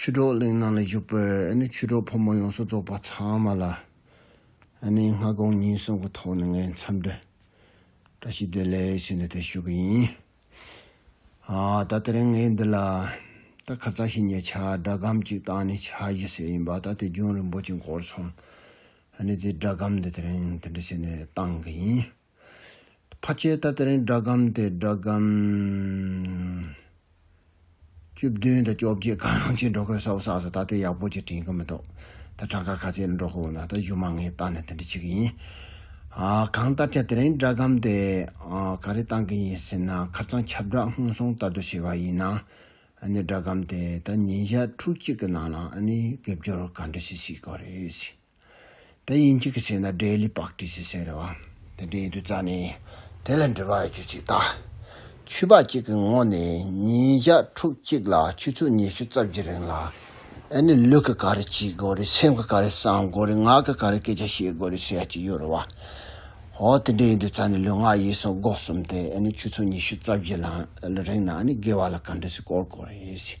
ཆུ་གྲོགས་གླིང་ནང་ལ་བཞུགས་པའི་ཆུ་གྲོགས་ཕོ་མོ་ཡོངས་སུ་རྫོགས་པ་ཚང་མ་ལ་ནི་སྔ་དགོང་ཉིན་གསུམ་གྱི་ཐོག་ནས་ངས་འཚམས་འདྲི་བཀྲ་ཤིས་བདེ་ལེགས་ཞུས་འདུག་དེ་ཞུ་གི་ཡིན། ད་དེ་རིང་ངས་འདི་ལ་ད་ཁ་ཚ་ཞིག་ཉེ་ཆར་སྒྲ་སྒམ་གཅིག་བཏང་ནས་བྱ་རྒྱུ་ཟེར་ཡིན་པ་ད་དེ་རྒྱུན་རིང་པོ་ཅིག་འགོར་སོང། དེ་སྒྲ་སྒམ་འདི་དེ་རིང་འདི་འདྲ་བྱས་ནས་བཏང་གི་ཡིན། ཕ་ཆོས་ད་ལྟར་སྒྲ་སྒམ་དེ་སྒྲ་སྒམ། བཅུ་བདུན་དང་བཅོ་བརྒྱད་གང་རུང་ཅིག་འགྲོ་ཁོས་ས་བོ་བསགས་སོ་ད་ལྟའི་ཡག་པོ་ཅིག་དྲན་གི་མི་འདུག་ད་གྲངས་ཀ་ག་ཚད་འགྲོ་ཁོ་བོ་ན་ད་གཞུག་མ་ངས་བཏགས་ནས་དེ་འདྲ་བྱེད་ཀྱི་ཡིན། གང་ལྟར་ཆ་དེ་རིང་སྒྲ་སྒམ་དེ་ག་རེ་བཏང་གི་ཡིན་ཟེར་ན་ཁར་ཚང་ཁྱབ་བསྒྲགས་སྔོན་སོང་ལྟར་དུ་བྱས་པ་ཡིན། སྒྲ་སྒམ་དེ་ད་ཉིན་ཞག་ཕྲུག་གཅིག་གི་ནང་ལ་ནི་དགེ་སྦྱོར་ག་འདྲ་ཞིག་བྱེད་དགོས་རེད། དེ་ཡིན་གཅིག་གི་ཆེད་ན་འབྲས་ལི་པགས་བྲིས་ཞེས་བཤད་རེད་བ། དེ་འདྲའི་ཡུལ་དུ་བཅར་ནས་དེ་ལས་འབྲི་བར་རྒྱུ་གཅིག་བལྟ། ཆུ་བག་གཅིག་གི་ངོགས་ནས་ཉིན་ཞག་ཕྲུག་གཅིག་ལ་ཆུ་ཚོད་ཉི་ཤུ་རྩ་བཞི་རིང་ལ། ཨེ་ནི་ལུས་ཀྱི་ག་རེ་བྱེད་དགོས་རེད་སེམས་ཀྱི་ག་རེ་བསམ་དགོས་རེད་ངག་གི་ག་རེ་སྐད་ཆ་བཤད་དགོས་རེད་ཟེར་ཡ་གཅིག་ཡོད་རེད་བ། ཧོ་དེ་འདྲའི་ཡུལ་དུ་བཅར་ནས་ལུས་ངག་ཡིད་གསུམ་སྒོ་གསུམ་དེ་ཨེ་ནི་ཆུ་ཚོད་ཉི་ཤུ་རྩ་བཞི་ལ་རིང་ན་ཨེ་ནི་དགེ་བ་ལ་ག་འདྲ་ཞིག་བསྐོར་དགོས་རེད།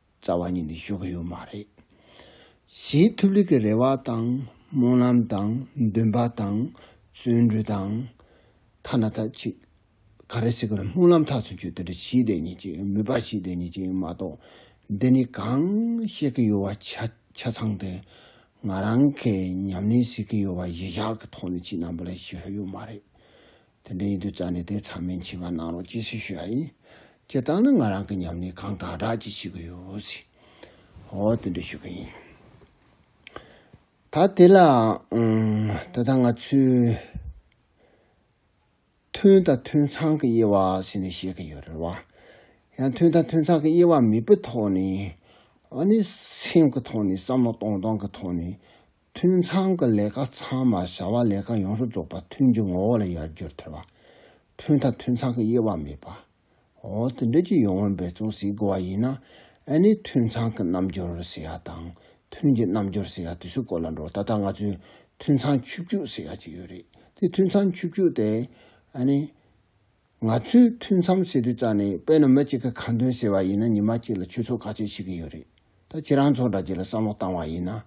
རྩ་བ་ཉིད་ནས་ཞུ་གི་ཡོད་མ་རེད། གཞིས་ཐུབ་ལིག་གི་རེ་བ་དང་སྨོན་ལམ་དང་འདུན་པ་དང་བརྩོན་འགྲུས་དང། ཐ་ན་ད་ཅིག་ག་རེ་ཟེར་གི་ལ་སྨོན་ལམ་ཐག་ཆོད་ཆོད་དེ་འདྲ་ཞིག་དེ་ཉིད་ཅིག་ཡིན་མོད་པ་ཞིག་དེ་ཉིད་ཅིག་ཡིན་མ་གཏོགས་འདི་ནས་གང་བཤད་གི་ཡོད་བ་ཆ་ཆ་ཚང་དེ་ང་རང་གི་ཉམས་ལེན་ཟེར་གི་ཡོད་བ་གཞི་བཞག་གི་ཐོག་ནས་ཅིག་ནང་པ་ལ་ཞུ་ཧོད་ཡོད་མ་རེད། དེ་འདྲའི་ཡིན་དུས་རྩ་ནས་དེ་ཚང་མའི་མཆི་བ་གནང་རོགས་ཅེས་སུས་ཞུ་ཡ་ཡིན། ཁྱེད་རྟག་ན་ང་རང་གི་ཉམས་ལེན་གང་དྲག་དྲག་ཅིག་བྱེད་གི་ཡོད་ཟེར། འོ་དེ་འདྲ་ཞུ་གི་ཡིན། ད་དེ་ལའང་ད་ལྟ་ང་ཚོས། མཐུན་དང་མཐུན་ཚང་གི་དབྱེ་བ་ཟེར་ནས་བཤད་ཀི་ཡོད་རེད་བ། ཡང་མཐུན་དང་མཐུན་ཚང་གི་དབྱེ་བ་མེད་པའི་ཐོག་ནས། ཨ་ནི་སེམས་ཀི་ཐོག་ནས་བསམ་བློ་གཏོང་སྟངས་ཀི་ཐོག་ནས་མཐུན་ཚང་གི་ལས་ཀ་ཚང་མ་བྱ་བ་ལས་ཀ་ཡོངས་སུ་རྫོགས་པ་མཐུན་གྱི་ངོ་བོ་ལ་ཡར་རྒྱུར་ཐལ་བ། མཐུན་མཐའ་མཐུན་ཚང་གི་དབྱེ་བ་མེད་པ། འོ་དེ་འདྲ་ཀྱི་ཡོང་བའི་འབད་བརྩོན་བྱེད་དགོས་པ་ཡིན་ན་ཨ་ནི་མཐུན་ཚང་གི་རྣམ་འགྱུར་ཟེར་ཡ་དང་མཐུན་གྱི་རྣམ་འགྱུར་ཟེར་ཡ་དུས་ཚོད་སྐོར་ལ་འགྲོ་ད་ལྟ་ང་ཚོས་མཐུན་ཚང་ཆུ་བཅུད་ཟེར་ཡ་ཅིག་ཡོད་རེད་དེ་མཐུན་ཚང་ཆུ་བཅུད་དེ་ཨ་ནི། ང་ཚོས་ཐུན་མཚམས་ཟེར་དུས་རྩ་ནས་དཔེར་ན་མི་གཅིག་གིས་ཁ་འདོན་ཟེར་བ་ཡིན་ན་ཉི་མ་གཅིག་ལ་ཁྱུ་ཚོགས་ག་ཚོད་ཤི་གི་ཡོད་རེད་ད་ཁྱེད་རང་ཚོ་འདྲ་གཅིག་ལ་བསམ་བློ་བཏང་བ་ཡིན་ན།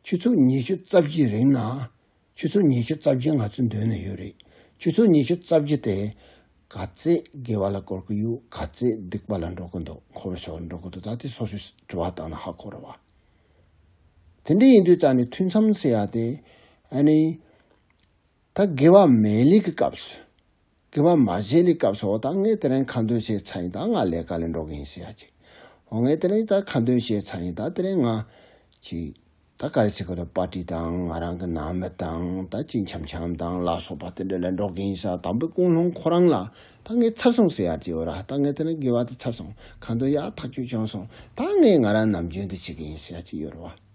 ཁྱུ་ཚོགས་ཉི་ཤུ་རྩ་བཞི་རིང་ན། ཁྱུ་ཚོགས་ཉི་ཤུ་རྩ་བཞི་ང་ཚོའི་མདུན་ན་ཡོད་རེད་ཁྱུ་ཚོགས་ཉི་ཤུ་རྩ་བཞི་དེ། ག་ཚད་དགེ་བ་ལ་བསྐོར་གི་ཡོད་ག་ཚད་སྡིག་པ་ལ་འགྲོ་གི་འདུག་འཁོར་བའི་ཕྱོགས་ལ་འགྲོ་གི་འདུག་ད་དེ་སོ་སོས་དྲི་བ་བཏང་ན་ཧ་གོ་རུ་བ། དེ་འདྲ་ཡིན་དུས་རྩ་ནས་ཐུན་མཚམས་ཟེར་ཡ་དེ། ཨ་ནི། ད་དགེ་བ་མའི་ལས་ཀྱི་སྐབས་སུ། དགེ་བ་མ་བྱས་ལས་སྐབས་སུ་འོ་ད་ངས་དེ་རིང་ཁ་འདོན་བྱས་ཚར་ཡིན་ད་ང་ལས་ཀ་ལས་འགྲོ་གི་ཡིན་ཟེར་ཡ་ཅིག། འོ་ངས་དེ་རིང་ད་ཁ་འདོན་བྱས་ཚར་ཡིན་ད་དེ་རིང་ང། ཅིག། ད་ག་རེ་བྱེད་ཁོ་ལ་པར་ཏི་དང་ང་རང་གི་ནང་མི་དང་ད་གཅིག་འཆམ་འཆམ་དང་ལ་སོགས་པ་དེ་འདྲ་ལས་འགྲོ་གི་ཡིན་ས་དང་པོའི་ཀུན་སློང་ཁོ་རང་ལ་ད་ངས་ཚར་སོང་ཟེར་ཡ་ཅིག་འོ་ར་ད་ངས་དེ་རིང་དགེ་བ་དེ་ཚར་སོང་ཁ་འདོན་ཡག་ཐག་ཆོད་བྱུང་སོང་ད་ངས་ང་རང་ནམ་རྒྱུན་དུ་བྱེད་ཀྱི་ཡིན་ཟེར་ཡ་ཅིག་ཡོད་རེད་བ།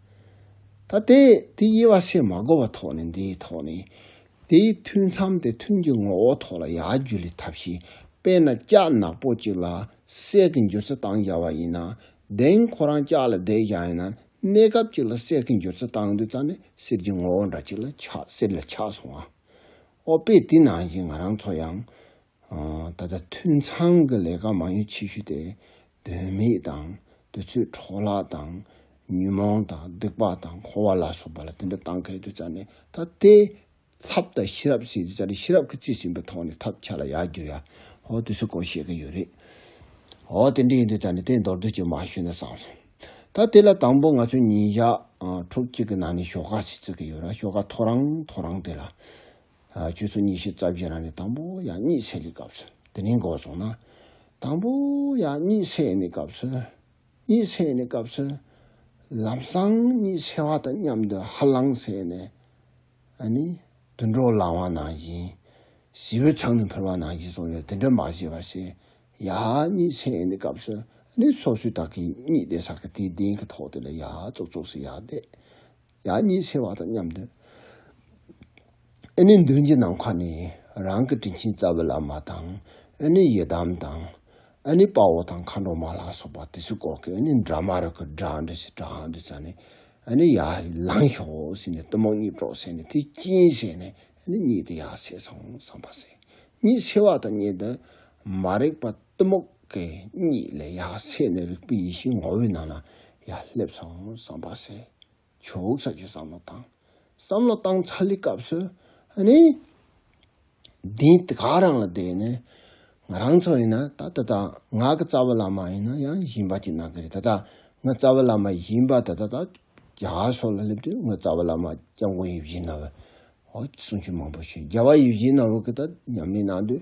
ད་དེ་དེ་དབྱེ་བ་ཤེས་མ་གོ་བ་ཐོག་ནས་འདིའི་ཐོག་ནས། དེའི་ཐུན་མཚམས་དེ་ཐུན་གྱི་ངོ་བོ་ཐོག་ལ་ཡར་རྒྱུ་ལས་ཐབས་ཤེས་དཔེར་ན་ལྕགས་ནག་པོ་གཅིག་ལ་གསེར་གྱི་འགྱུར་ཚུལ་སྟངས་སྦྱར་བ་ཡིན་ན། གདེང་ཁོ་རང་ལྕགས་ལ་བསྒྲེས་བཞག་ཡིན་ན་གནས་སྐབས་གཅིག་ལ་གསེར་གྱི་འགྱུར་ཚུལ་སྟངས་དུས་ཙམ་ནས་གསེར་གྱི་ངོ་བོ་འདྲ་གཅིག་ལ་ཆགས་གསེར་ལ་ཆགས་སོང་ངོ། ཨོ་དཔེ་དེ་ནང་བཞིན་ང་རང་ཚོ་ཡང། ད་ལྟ་ཐུན་མཚམས་ཀྱི་ལས་ཀ་མང་ཉུང་ཆེ་ཤོས་དེ་དོན་མེད་དང་དུས་ཚོད་འཕྲོ་བརླག་དང་ཉོན་མོངས་དང་སྡིག་པ་དང་འཁོར་བ་ལ་སོགས་པ་ལ་དེ་འདྲ་བཏང་གལ་ཏུ་བྱ་ནས་ད་ལྟའི་ཚབ་དང་ཤེས་རབ་བྱས་ཏེ་བྱ་ནས་ཤེས་རབ་ཀྱི་རྩིས་ཟིན་པའི་ཐོག་ནས་ཐབས་ཆག་ལ་ཡར་འགྱུར་ཡ། ཧོ་དེ་སུ་གང་བཤད་ཀྱི་ཡོད་རེད། ཨོ་དེ་འདྲ་ཡིན་དུས་བྱ་ནས་དེ་མདོར་བསྡུས་ཀྱིས་མ་ཞུས་ན་བཟང་སོང། ད་དེ་ལ་དང་པོ་ང་ཚོས་ཉིན་ཞག་དྲུག་གཅིག་གི་ནང་ནས་ཞོགས་ཀ་ཞིག་བརྩི་གི་ཡོད་ར་ཞོགས་ཀ་ཐོ་རངས་ཐོ་རངས་དེ་ལ་ཁྱོད་ཚོ་གཉིས་ཤིག་རྩ་བཞི་རང་རེ་དང་པོ་ཡང་གཉིས་བསྲེས་ཀྱི་སྐབས་སུ་དེ་རིང་འགོག་བྱུང་ན། དང་པོ་ཡང་གཉིས་བསྲེས་ནས་སྐབས་སུ། གཉིས་བསྲེས་ནས་སྐབས་སུ། ལམ་སང་གཉིས་བསྲེས་བ་དང་མཉམ་དུ་ཧ་ལང་བསྲེས་ནས། ཨ་ནི། དུད་འགྲོ་ལང་བ་ནང་བཞིན། བྱི་བོའི་ཚང་ནས་འཕུར་བ་ནང་བཞིན་སོང་ཡོད་དེ་འདྲ་མ་བྱེད་པ་ཞེས། ཡ། གཉིས་བསྲེས་ནས་སྐབས་སུ། ཨ་ནི་སོ་སོའི་དག་གིས་གཉིད་བསྡད་ས་གི་དེའི་གདན་གྱི་ཐོག་དེ་ལ་ཡ། ཙོག་ཙོག་སེ་ཡ་བསྡད། ཡང་ཉེས་ཆེ་བ་དང་མཉམ་དུ། ཨེ་ནི་མདུན་གྱི་ནམ་མཁའ་ནི་རང་གི་དྲིན་ཆེན་རྩ་བའི་བླ་མ་དང། ཨེ་ནི་ཡི་དམ་དང། ཨེ་ནི་དཔའ་བོ་དང་མཁའ་འགྲོ་མ་ལ་སོགས་པ་དེ་ཚོས་བཀོག་གི་ཨེ་ནི་དགྲ་དམར་གི་དགྲ་འདྲེ་ཞེས་སྒྲ་འང་འདི་བྱ་ནས། ཨེ་ནི་ཡར་ལངས་ཤོག་ཟེར་ནས་གཏུམ་མོ་གཉིས་དཀྲོགས་བྱས་ནས་དེ་སྐྱིན་བྱས་ནས་ཨེ་ནི་གཉིད་དེ་ཡར་ཆད་སོང་བསམ་པ་བྱས། ཉེས་ཆེ་བ་དང་ཉེས་དུ་མ་རེག་པ་གཏུམ་མོ་གི་གཉིད་ལས་ཡར་སད་ནས་རིག་པའི་ཡེ་ཤེས་ངོ་བོའི་ནང་ན་ཡར་སླེབས་སོང་བསམ་པ་སེ། ཞོག་ཚ་གི་བསམ་བློ་བཏང། བསམ་བློ་བཏང་ཚར་ལི་སྐབས་སུ་ནི། འདི་དེ་ག་རང་ལ་བསྡད་ནས་ང་རང་ཚོ་ཡིན་ན་ད་ད་ད་ང་གི་རྩ་བ་ལ་མ་ཡིན་ན་ཡང་གཞན་པ་གྱི་ནང་གི་རེད་ད་ད་ང་རྩ་བ་ལ་མ་གཞན་པ་ད་ད་ད་རྒྱ་གར་སོགས་ལ་སླེབས་དུས་ང་རྩ་བ་ལ་མ་སྐྱབས་མགོན་ཡིད་བཞིན་ནོར་བུ། ཧོ་གསུང་ཆོས་མང་པོ་བྱོས་རྒྱལ་བ་ཡིད་བཞིན་ནོར་བུ་གི་ད་མཉམ་ལས་གནང་དུས་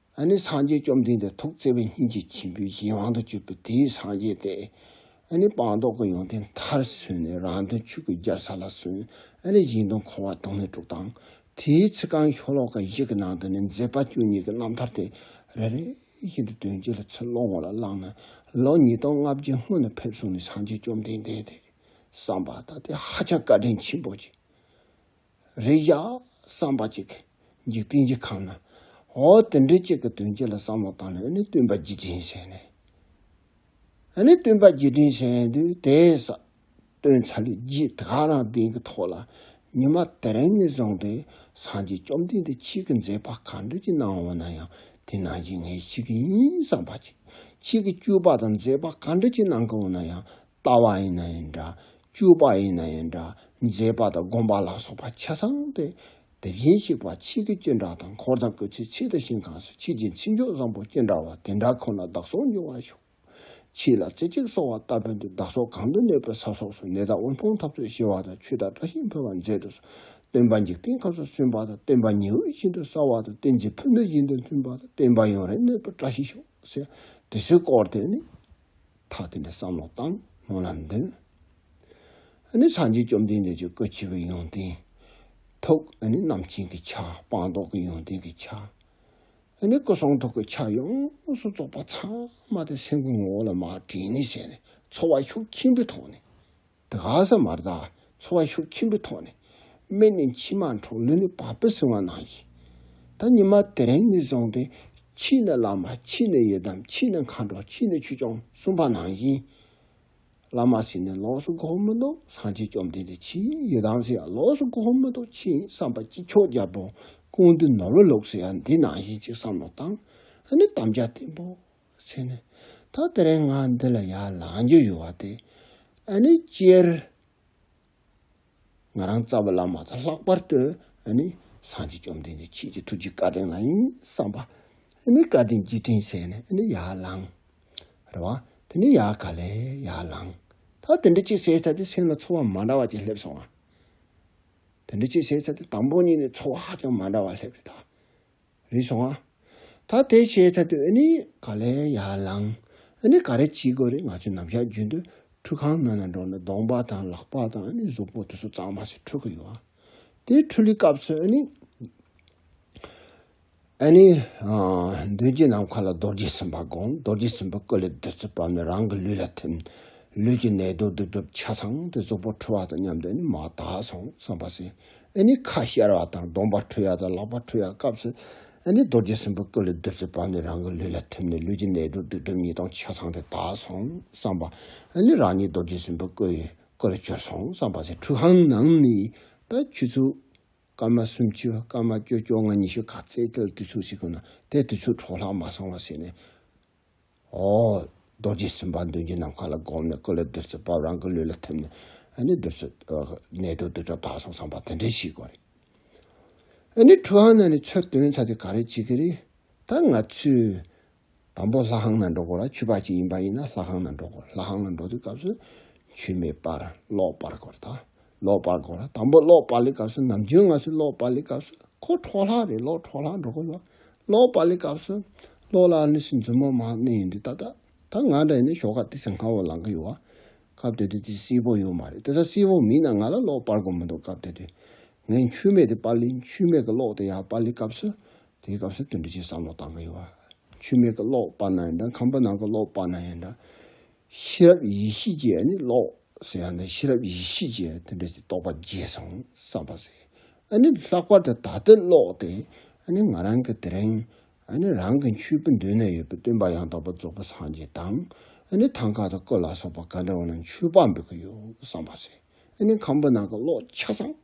ཨ་ནི་སངས་རྒྱས་བཅོམ་ལྡན་འདས་ཐུགས་བརྩེ་བས་སྙིང་རྗེ་ཆེན་པོའི་གཞན་དབང་དུ་སྤྱོད་པའི་དེའི་སངས་རྒྱས་ཏེ། ཨ་ནི་སྤངས་རྟོགས་ཀྱི་ཡོན་ཏན་མཐར་སོན་ནས་རང་དོན་ཆོས་ཀྱི་སྦྱར་ས་ལ་སོན། ཨ་ནི་གཞན་དོན་འཁོར་བ་དོང་ནས་སྤྲུགས་དང། དེའི་ཚེ་གང་ཤོ་ལོ་ཀ་བཞི་གི་ནང་དུ་ནི་མཛད་པ་བཅུ་གཉིས་ཀྱི་རྣམ་ཐར་དེ་རེ་རེ་བཞིན་དུ་དོན་སྤྱི་ལ་ཚུར་བློ་ངོ་ལ་བླངས་ནས་ལོ་ཉིས་སྟོང་ལྔ་བརྒྱའི་སྔོན་དུ་ཕེབས་སོང་ནས་སངས་རྒྱས་བཅོམ་ལྡན་འདས་དེས་བསམས་པ་ལྟར་དེ་ཧ་ཅང་བཀའ་དྲིན་ཆེན་པོ་བྱས། རེ་བཞག་བསམ་པ་ཅིག་འཇིག་རྟེན་གྱི་ཁམས་ན། འོ་དེ་འདྲའི་ཅིག་གི་དོན་ཅི་ལ་བསམ་བློ་བཏང་ནས་འོ་ནི་སྟོན་པ་རྗེས་དྲན་བྱས་ནས། འོ་ནི་སྟོན་པ་རྗེས་དྲན་བྱས་དུས་དེས་ས་སྟོན་ཚ་ལུས་རྗེས་དགའ་རང་བདེན་གྱི་ཐོག་ལ་ཉི་མ་དེ་རིང་ནས་བཟུང་སྟེ་སངས་རྒྱས་བཅོམ་ལྡན་འདས་ཁྱེད་ཀྱི་མཛད་པ་གང་འདོད་ཀྱི་གནང་འོང་ན་ཡང་དེ་གནང་བྱེད་ངའི་ཁྱེད་ཀྱི་ཡིན་བསམ་པ་ཅིག་ཁྱེད་ཀྱི་སྤྱོད་པ་དང་མཛད་པ་གང་འདོད་ཀྱི་གནང་གི་འོང་ན་ཡང་ལྟ་བ་ཡིན་ན་ཡང་འདྲ། སྤྱོད་པ་ཡིན་ན་ཡང་འདྲ། མཛེས་པ་དང་སྒོམ་པ་ལ་སོགས་པ་ཆ་ཚང་སྟེ། དེ་བཞིན་གཤེགས་པ་ཆེ་གེ་སྤྱན་དྲངས་དང་འཁོར་དང་སྐུ་ཚེ་ཆེ་དང་ཞིང་གང་སུ་ཁྱེད་ཀྱི་མཚན་མཆོག་བཟང་པོ་སྤྱན་དྲངས་བ་དེ་འདྲ་ཁོ་ན་བདག་སོགས་འབྱུང་བར་ཤོག། ཁྱེད་ལ་རྩེ་གཅིག་སོགས་བ་ལྟ་བུ་འདི་བདག་སོགས་གང་དུ་གནས་པའི་ས་སོགས་སུ་ནད་དང་དབུལ་ཕོངས་འཐབ་རྩོད་ཞི་བ་དང་ཆོས་དང་བཀྲ་ཤིས་འཕེལ་བར་མཛད་དུ་གསོལ། སྟོན་པ་འཇིག་རྟེན་སྐབས་སུ་སོན་པ་དང་སྟོན་པ་ཉི་འོད་བཞིན་དུ་གསལ་བ་དང་བསྟན་འཛིན་ཕུ་ནུ་བཞིན་དུ་མཐུན་པ་དང་སྟོན་པ་ཡུན་རིང་གནས་པར་བཀྲ་ཤིས་ཤོག། དེ་སྲས་བསྐོར་དེ་ནི། ཐག་བསྟན་པའི་བསམ་བློ་བཏང་སྔོན་ལ་འདི་ནི་སངས་རྒྱས་བཅོམ་ལྡན་འདས་ཀྱི་སྐུ་ཆེ་བའི་ཡོན་ཏན། ཐུགས་ནི་རྣམ་མཁྱེན་གྱི་ཆ་སྤངས་རྟོགས་ཀྱི་ཡོན་ཏན་གྱི་ཆ། ནི་སྐུ་གསུང་ཐུགས་ཀྱི་ཆ་ཡོངས་སུ་རྫོགས་པ་ཚང་མ་དེ་སེམས་ཀྱི་ངོ་བོ་ལ་མ་དྲིས་ནས་བྱས་ནས་འཚོ་བ་ཤུགས་ཆེན་པོའི་ཐོག་ནས། དགའ་ས་མ་རྡ་འཚོ་བ་ཤུགས་ཆེན་པོའི་ཐོག་ནས་སྨན་ནི་མཆིལ་མ་འཕྲོག་ལུས་ནི་བག་ཕེབས་སྲིང་བ་གནང་ཡིན། ད་ཉི་མ་དེ་རིང་ནི་བཟང་སྟེ་ཕྱིས་ནི་བླ་མ་ཕྱིས་ནི་ཡི་དམ་ཕྱིས་ནི་མཁའ་འགྲོ་ཕྱིས་ནི་ཆོས་སྐྱོང་གསུམ་པ་གནང་ཡིན། བླ་མ་སྲིད་ནི་ལོགས་སུ་དགོངས་མི་འདུག་སངས་རྒྱས་བཅོམ་ལྡན་འདས་ཕྱིས་ཡི་དམ་སྲིད་ཡང་ལོགས་སུ་དགོངས་མི་འདུག་ཕྱིས་བསམ་པ་ཅི་ཁྱོག་རྒྱལ་པོ་ཀུན་འདུས་ནོར་བུ་ལུགས་སྲིད་ཡང་འདི་གནང་ཡིན་ཅེས་བསམ་བློ་བཏང་ནི་དམ་བཅའ་བརྟན་པོ་ཚེ་ནི། ད་དེ་རིང་ང་འདི་ལ་ཡར་ལངས་རྒྱུ་ཡོད་བ་དེ། ཨ་ནི་སྤྱིར་ང་རང་རྩ་བ་བླ་མ་དང་ལྷག་པར་དུ་ཨ་ནི་སངས་རྒྱས་བཅོམ་ལྡན་འདས་ཁྱེད་ཀྱི་ཐུགས་ཀྱི་བཀའ་དྲིན་ལ་ཡིན་བསམ་པ། ཨ་ནི་བཀའ་དྲིན་གྱིས་བཀྲིན་བྱས་ནས་ཨ་ནི་ཡར་ལངས། རེད་བ། དེ་ནས་ཡར་ག་ལེ་ཡར་ལངས། ད་དེ་འདྲ་ཅིག་བྱས་ཚར་དུས་སེམས་ལ་ཚོར་བ་མ་འདྲ་བ་ཅིག་སླེབས་སོང་ང། དེ་འདྲ་ཅིག་བྱས་ཚར་དུས་དང་པོ་གཉིས་ནས་ཚོར་བ་ཧ་ཅང་མ་འདྲ་བ་སླེབས་རེད་ད། རེ་བྱུང་ང། ད་དེ་བྱས་ཚར་དུས་ཨ་ནི་ག་ལེ་ཡར་ལངས། ཨ་ནི་ག་རེ་བྱེད་དགོས་རེད་ང་ཚོས་ནམ་ཞག་རྒྱུན་དུ་ཁྲུས་ཁང་ནང་ལ་འགྲོ་ན་གདོང་པ་དང་ལག་པ་དང་ཨ་ནི་གཟུགས་པོ་དེ་ཚོ་གཙང་མ་ཞིག་འཁྲུ་གི་ཡོད། དེའི་འཁྲུ་ལུའི་སྐབས་སུ་ཨ་ནི། ཨ་ནི། མདུན་གྱི་ནམ་མཁའ་ལ་རྡོ་རྗེ་སེམས་དཔའ་དགོངས་རྡོ་རྗེ་སེམས་དཔའི་སྐུ་ལས་བདུད་རྩི་བབས་ནས་རང་གི་ལུས་ལ་ཐིམ། ལུས་ཀྱི་ནད་དུག་སྡིག་སྒྲིབ་ཆ་ཚང་དེ་གཟུགས་པོ་འཁྲུ་བ་དང་མཉམ་དུ་ཨ་ནི་མ་དག་སོང་བསམ་པ་སེ་ཁ་ཤར་བ་དང་གདོང་པ་ཁྲོས་ཡ་དང་ལག་པ་ཁྲོས་ཡ་སྐབས་སུ། རྡོ་རྗེ་སྲིན་པོའི་སྐུ་ལས་བདུད་རྩི་བབས་ནས་རང་གི་ལུས་ལ་ཐིམ་ནས་ལུས་ཀྱི་ནད་དུག་དུག་སྦྲུམ་ཉིས་སྟོང་ཆ་ཚང་དེ་དག་སོང་བསམ་པ། རང་ཉིད་རྡོ་རྗེ་སྲིན་པོའི་སྐུ་ཡི་སྐུ་ལ་གྱུར་སོང་བསམ་པ། ཚེ་ཁྲུ་ཧཱུྃ་ནང་ནས་ད་ཁྱུད་ཚུགས། སྐར་མ་སུམ་ཅུ་སྐར་མ་བཅོ་བཅོ་ལྔ་ཉི་ཤུ་ག་ཚད་དེ་ལ་དུས་ཚུགས་ཤིག་གོ་ན་དེ་དུས་ཚུགས་འཕྲོག་ལྷག་མ་སོང་བ་ཟེར་ནས། ཨོ། རྡོ་རྗེ་སེམས་དཔའ་མདུན་གྱི་ནམ་མཁའ་ལ་བསྒོམས་ནས་སྐུ་ལ་བདུད་རྩི་བབས་རང་གི་ལུས་ལ་ཐིམ་ནས་ནི་བདུད་རྩི། ནད་དུག་རྡུལ་ཕྲ་དག་སོང་བསམ་པ་དེ་འདྲས་ཤིག་གོ། ནི་ཁྲུ་ཧང་ན་ནི་ཆོས་སྟོན་ཚ་དེ་ག་རེ་བྱེད་ཀྱི་རེད། ད་ང་ཚོས། དང་པོ་ལྷ་ཁང་ན་འགྲོ་དགོས་ལ་ཆོས་པ་ཅིག་ཡིན་པ་ཡིན་ན་ལྷ་ཁང་ན་འགྲོ་དགོས་ལྷ་ཁང་ན་འགྲོ་དུས་སྐབས་སུ། ཆོས་མེད་པར་ཀློག་པར་དགོས་རེད་ད། ཀློག་པར་དགོས་ལ་དང་པོ་ཀློག་པ་ལས་སྐབས་སུ་ནམ་རྒྱུན་ང་ཚོས་ཀློག་པ་ལས་སྐབས་སུ་ཁོ་འཕྲོག་ལྷག་རེད་ཀློག་འཕྲོག་ལྷག་འགྲོ་དགོས་ལ། ལོག་པ་ལས་སྐབས་སུ་ལོག་ལ་ནི་སེམས་ཅན་མ་མ་གནས་ཡིན་ཏེ་ད་ལྟ་ད་ང་འདྲ་ཡིན་ན་ཞོག་ཁ་དེ་ཚེ་སྔ་བོ་ལང་གི་ཡོད་བ། སྐབས་དེ་དུས་དེ་སིལ་བོ་ཡོད་མ་རེད་དེ་ད་སིལ་བོ་མིན་ན་ང་ལ་ལོག་སྤར་དགོས་མི་འདུག་སྐབས་དེ་དུས་ངས་འཆུས་མེད་དེ་པར་ལེན་འཆུས་མེད་གི་ལོག་དེ་ཡང་པར་ལེན་སྐབས་སུ་དེའི་སྐབས་སུ་དོན་འདི་ཅིག་བསམ་བློ་བཏང་གི་ཡོད་བ། འཆུས་མེད་གི་ལོག་སྤར་ན་ཡིན་དང་ཁམ་བུ་ནང་གི་ལོག་སྤར་ན་ཡིན་དང། ཤེས་རབ་ཡེ་ཤེས་ཀྱི་ཨ་ནི་ཀློག། ཟེར་ཡང་ན་ཤེས་རབ་ཡེ་ཤེས་ཀྱི་དེ་འདྲ་ཞིག་རྟོགས་པ་རྗེས་སུ་བསམ་པ་ཟེར། ཨ་ནི་ལྷག་པར་དུ་ད་ལྟའི་ཀློག་སྟེ་ཨ་ནི་ང་རང་གི་དེ་རིང། ཨ་ནི་རང་གི་མཆོད་པའི་མདུན་ན་ཡོད་པའི་སྟོན་པ་ཡང་དག་པར་རྫོགས་པའི་སངས་རྒྱས་དང། ཨ་ནི་ཐང་ཀ་དང་ཀོ་ལ་སོགས་པ་ག་འདྲ་བ་ན་མཆོད་པ་འབུལ་གྱི་ཡོད་སམ་པ་ཟེར། ཨ་ནི་ཁམ་བུ་ནང་གི་ཀློག་ཆ་ཚང།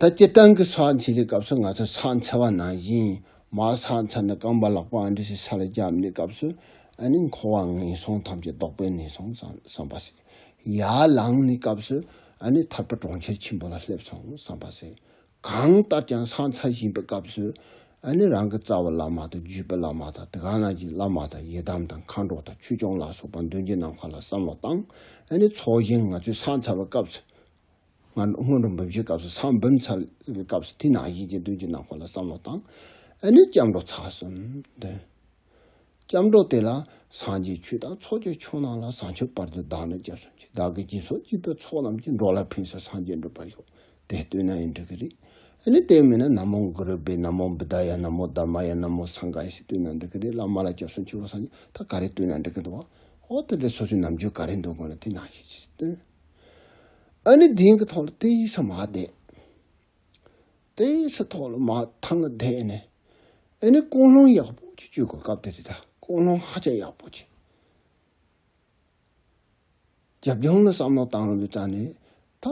ད་སྤྱིར་བཏང་གི་ཚགས་འཚལ་གྱི་སྐབས་སུ་ང་ཚོས་ཚགས་འཚལ་བ་ནང་བཞིན་མར་ཚགས་འཚལ་ནས་རྐང་པ་ལག་པ་ཨ་འདྲེ་ཞིག་ས་ལ་བརྒྱབ་ནས་སྐབས་སུ་ཨ་ནི་འཁོར་བ་ངན་སོང་ཐམས་ཅད་བཟློག་པའི་གནས་སོང་བསམ་པ་ཟད། ཡར་ལངས་ནས་སྐབས་སུ་ཨ་ནི་ཐར་པ་གྲོང་ཁྱེར་ཆེན་པོ་ལ་སླེབས་སོང་བསམ་པ་ཟད། གང་ལྟར་ཀྱང་ཚགས་འཚལ་བཞིན་པའི་སྐབས་སུ་ཨ་ནི་རང་གི་རྩ་བ་བླ་མ་དང་བརྒྱུད་པའི་བླ་མ་དང་དེ་ག་ན་གྱི་བླ་མ་དང་ཡི་དམ་དང་མཁའ་འགྲོ་དང་ཆོས་སྐྱོང་ལ་སོགས་པ་མདུན་གྱི་ནམ་མཁའ་ལ་བསམ་བློ་བཏང་ཨ་ནི་ཚོགས་ཞིང་ང་ཚོས་ཚགས་འཚལ་བའི་སྐབས་སུ་སྔོན་འགྲོ་འབུམ་བཞིའི་སྐབས་སུ་ས་བོན་བུམ་ཚར་གྱི་སྐབས་སུ་ཐིག་ནག་བཞི་བཅས་བདུན་གྱི་ནང་ཁོག་ལ་བསམ་བློ་བཏང། དེ་ནས་སྐྱབས་འགྲོ་ཚར་གསུམ་འདོན། སྐྱབས་འགྲོ་དེ་ལ་སངས་རྒྱས་ཆོས་དང་ཚོགས་ཀྱི་ཆོས་རྣམས་ལ་བསང་མཆོད་སྤར་དུ་བདག་ནི་སྐྱབས་སུ་མཆི་བདག་གི་སྦྱིན་སོགས་ཅི་ཕོད་ཚོགས་རྣམས་ཀྱིས་འགྲོ་ལ་ཕུན་སུ་སངས་རྒྱས་འགྲུབ་པར་ཤོག་དེ་ལྟོས་ན་ཡང་འགྲིག་གི་རེད། དེ་ནས་དེ་མིན་ན་ན་མོ་གུ་རུ་པེ་ན་མོ་བུདྡྷ་ཡ་ན་མོ་དཱ་མ་ཡ་ན་མོ་སངྒྷ་ཡ་ཞེས་བསྟོད་ན་འགྲིག་གི་རེད་བླ་མ་ལ་སྐྱབས་སུ་མཆི་བ་སངས་རྒྱས་ད་ག་རེ་བསྟོད་ན་འགྲིག་གི་འདུག་བ། འོ་དེ་ལས་སོ་སོའི་རྣམ་འགྱུར་ག་རེ་འདུག་དགོངས་ན་ཐིག་ནག་བཞི་བཅས་བཏོན། ཨ་ནི་དེང་གི་ཐོག་ལ་དེ་ཡི་ས་མ་བསྡད། དེ་ཡི་ས་ཐོག་ལ་མ་ཐང་ལ་བསྡད་ནས་ཨ་ནི་ཀོང་ལྷོང་ཡག་པོ་ཅིག་སྤྱོད་དགོས་སྐབས་དེ་དེ་ད་ཀོང་ལྷོང་ཧ་ཅང་ཡག་པོ་ཅིག་རྒྱབ་ལྗོངས་ལ་བསམ་བློ་བཏང་བའི་རྩ་ནས་ད་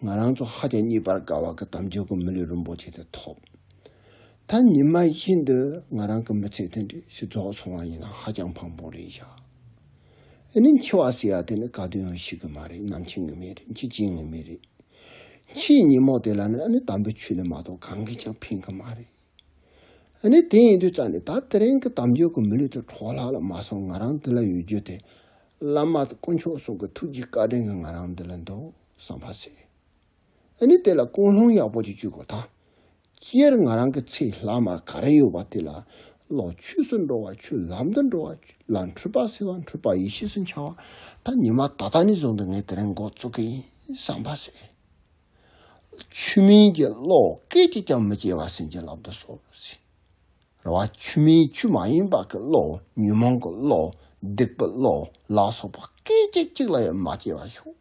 ང་རང་ཚོ་ཧ་ཅང་གཉིད་པར་དགའ་བ་གི་དམ་ཆོས་ཀྱི་མི་ལུས་རིན་པོ་ཆེ་དེ་ཐོབ། ད་ཉི་མ་བཞིན་དུ་ང་རང་གི་མི་ཚེ་དེ་འདྲའི་ཞིག་རྫོགས་སོང་བ་ཡིན་ན་ཧ་ཅང་ཕངས་པོ་རེད་བཞག། ཨེ་ནི་འཆི་བ་ཟེར་བ་དེ་ནི་ག་དུས་ཡང་ཤི་གི་མ་རེད་ནམ་འཆི་ངེས་མེད་རེད་འཆི་བྱེད་ངེས་མེད་རེད། འཆིའི་ཉིན་མོ་དེ་ལ་ནི་ཨེ་ནི་དམ་པའི་ཆོས་ལས་མ་གཏོགས་གང་གིས་ཀྱང་ཕན་གི་མ་རེད། ཨེ་ནི་དེ་ཡིན་དུས་རྩ་ནས་ད་ལྟ་རིང་གི་དམ་ཆོས་ཀྱི་མི་ལུས་དེ་འཕྲོག་ལྷག་ལ་མ་སོང་ང་རང་འདི་ལ་ཡོད་རྒྱུ་དེ་བླ་མ་དཀོན་མཆོག་སོགས་ཀྱི་ཐུགས་ཀྱི་བཀའ་དྲིན་གྱིས་ང་རང་འདི་ལ་འདུག་བསམ་པ་ཟད། ཨེ་ནི་དེ་ལ་ཀུན་སློང་ཡག་པོ་ཅིག་བྱུས་དགོས་ད་སྤྱིར་ང་རང་གི་ཚེ་ལྷག་མ་ག་རེ་ཡོད་པ་དེ་ལ་ལོག་ཆོས་སུ་འགྲོ་བ་ཆོས་ལམ་དུ་འགྲོ་བ་ཆོས་ལ་འཁྲུལ་པ་སེལ་བ་འཁྲུལ་པ་ཡེ་ཤེས་སུ་འཆར་བ་ད་ཉི་མ་ད་ལྟ་ནས་བཟུང་དུ་ངས་དེ་རིང་འགོ་བཙུགས་མཁན་ཡིན་བསམ་པ་ཟད། ཆོས་མིན་གྱི་བློ་སྐད་ཅིག་ཀྱང་མི་སྐྱེ་བར་སེམས་ཅན་ལབ་ཏུ་སོང་ཟིན། རེ་བ་ཆོས་མིན་ཆོས་མ་ཡིན་པ་གི་བློ་ཉོན་མོངས་གི་བློ་སྡིག་པའི་བློ་ལ་སོགས་པ་སྐད་ཅིག་གཅིག་ལ་ཡང་མ་སྐྱེ་བར་ཤོག།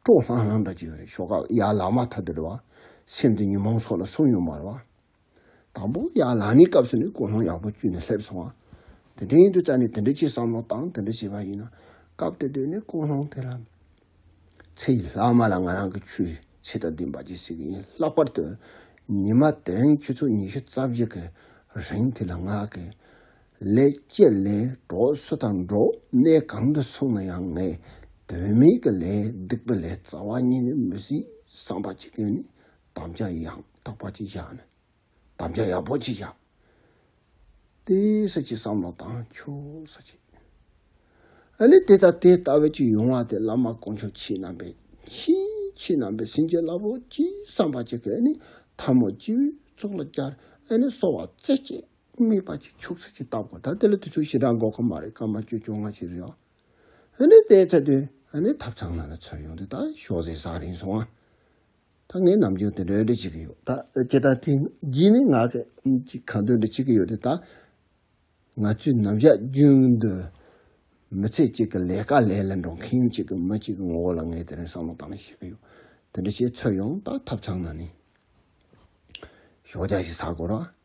སྤྲོ་ལྷང་ལྷང་དང་བཅས་པའི་ཤོག་ཁག་ཡར་ལངས་མ་ཐག་དུ་རེ་བ། སེམས་དང་ཉོན་མོངས་སོགས་ལ་སོམ་ཡོང་བར་བ། དང་པོ། ཡར་ལངས་ནས་སྐབས་སུ་ནི་ཀུན་སློང་ཡག་པོ་བཅུད་ནས་སླེབས་སོང་བ། དེ་དོན་ཡིན་དུ་བཅར་ནས་དེ་འདྲ་བྱེད་བསམ་བློ་བཏང་དེ་འདྲ་བྱས་པ་ཡིན་ན། སྐབས་དེ་དུས་ནས་ཀུན་སློང་དེ་ལ། ཚེ་ཡི་ལྷག་མ་ལ་ང་རང་གི་ཆོས་བྱེད་དང་ལྡན་པ་ཅིག་བྱེད་ཀྱི་ཡིན་ལྷག་པར་དུ། ཉི་མ་དེ་རིང་ཁྱེད་ཚོ་ཉི་ཤུ་རྩ་བརྒྱད་ཀྱི་རིང་དེ་ལ་ངག་གི། ལེགས་སྐྱེས་ལས་གྲོགས་སུ་དང་འགྲོགས་གནས་གང་དུ་སོང་ན་ཡང་ངས་བུད་མེད་ཀྱི་ལས་སྡིག་པ་ལས་རྩ་བ་ཉིད་ནས་མི་སྲིད་བསམ་པ་གཅིག་གིས་ནི་དམ་བཅའ་ཡང་དག་པ་གཅིག་བཞག་ནས་དམ་བཅའ་ཡག་པོ་གཅིག་བཞག་དེ་ས་ཅི་བསམ་བློ་བཏང་ཆོག་ས་ཅི་ཨ་ལས་དེ་དང་དེ་ལྟ་བུ་གཅིག་ཡོང་བ་དེ་བླ་མ་དཀོན་མཆོག་ཁྱེད་རྣམ་པས་མཁྱེན་ཁྱེད་རྣམ་པས་ཟིན་གྱི་བསླབ་བོ་གཅིག་བསམ་པ་གཅིག་གིས་ནི་འཐབ་མོ་གཅིག་བུས་གཙུག་ལག་བརྒྱར་ཨ་ལས་གསོ་བ་རྩེ་གཅིག། སྨྲས་པ་ཅིག་ཕྱོགས་ཚིགས་ཀྱིས་བཏགས་པ་དང་དེ་ལ་དུས་ཚོད་ཞེ་དྲག་འགོར་ཁ་མ་རེད་སྐར་མ་བཅོ་བཅོ་ལྔ་ཅིག་རེད་ཨོ། ཧོན་ནི་དེའི་ཚེ་དུས་ཧོན་ནི་ཐབ་ཚང་ནང་ལ་ཚུར་ཡོང་དུས་ད་ཤོག་ཟས་བཟའ་རིན་སོང་ཨ། ད་ངས་ནམ་རྒྱུན་དེ་འདྲ་འདྲ་བྱེད་ཀྱི་ཡོད་ད་ཁྱེད་ད་ཐེངས་གྱིས་ནི་ང་གི་ཅིག་གང་འདོད་འདྲ་བྱེད་ཀྱི་ཡོད་དེ་ད། ང་ཚོས་ནམ་ཞག་རྒྱུན་དུ་མི་ཚེ་གཅིག་གི་ལས་ཀ་ལས་ལ་འགྲོ་མཁན་གཅིག་གི་མི་གཅིག་གི་ངོ་བོ་ལ་ངས་དེ་རིང་བསམ་བློ་བཏང་ནས་བཤད་ཀྱི་ཡོད་དེ་འདྲ་བྱས་ཚུར་ཡོང་ད་ཐབ་ཚང་ནང་ནས་ཤོག་བརྒྱ་ཞིག་ཟ་དགོས་རོགས་ཨ།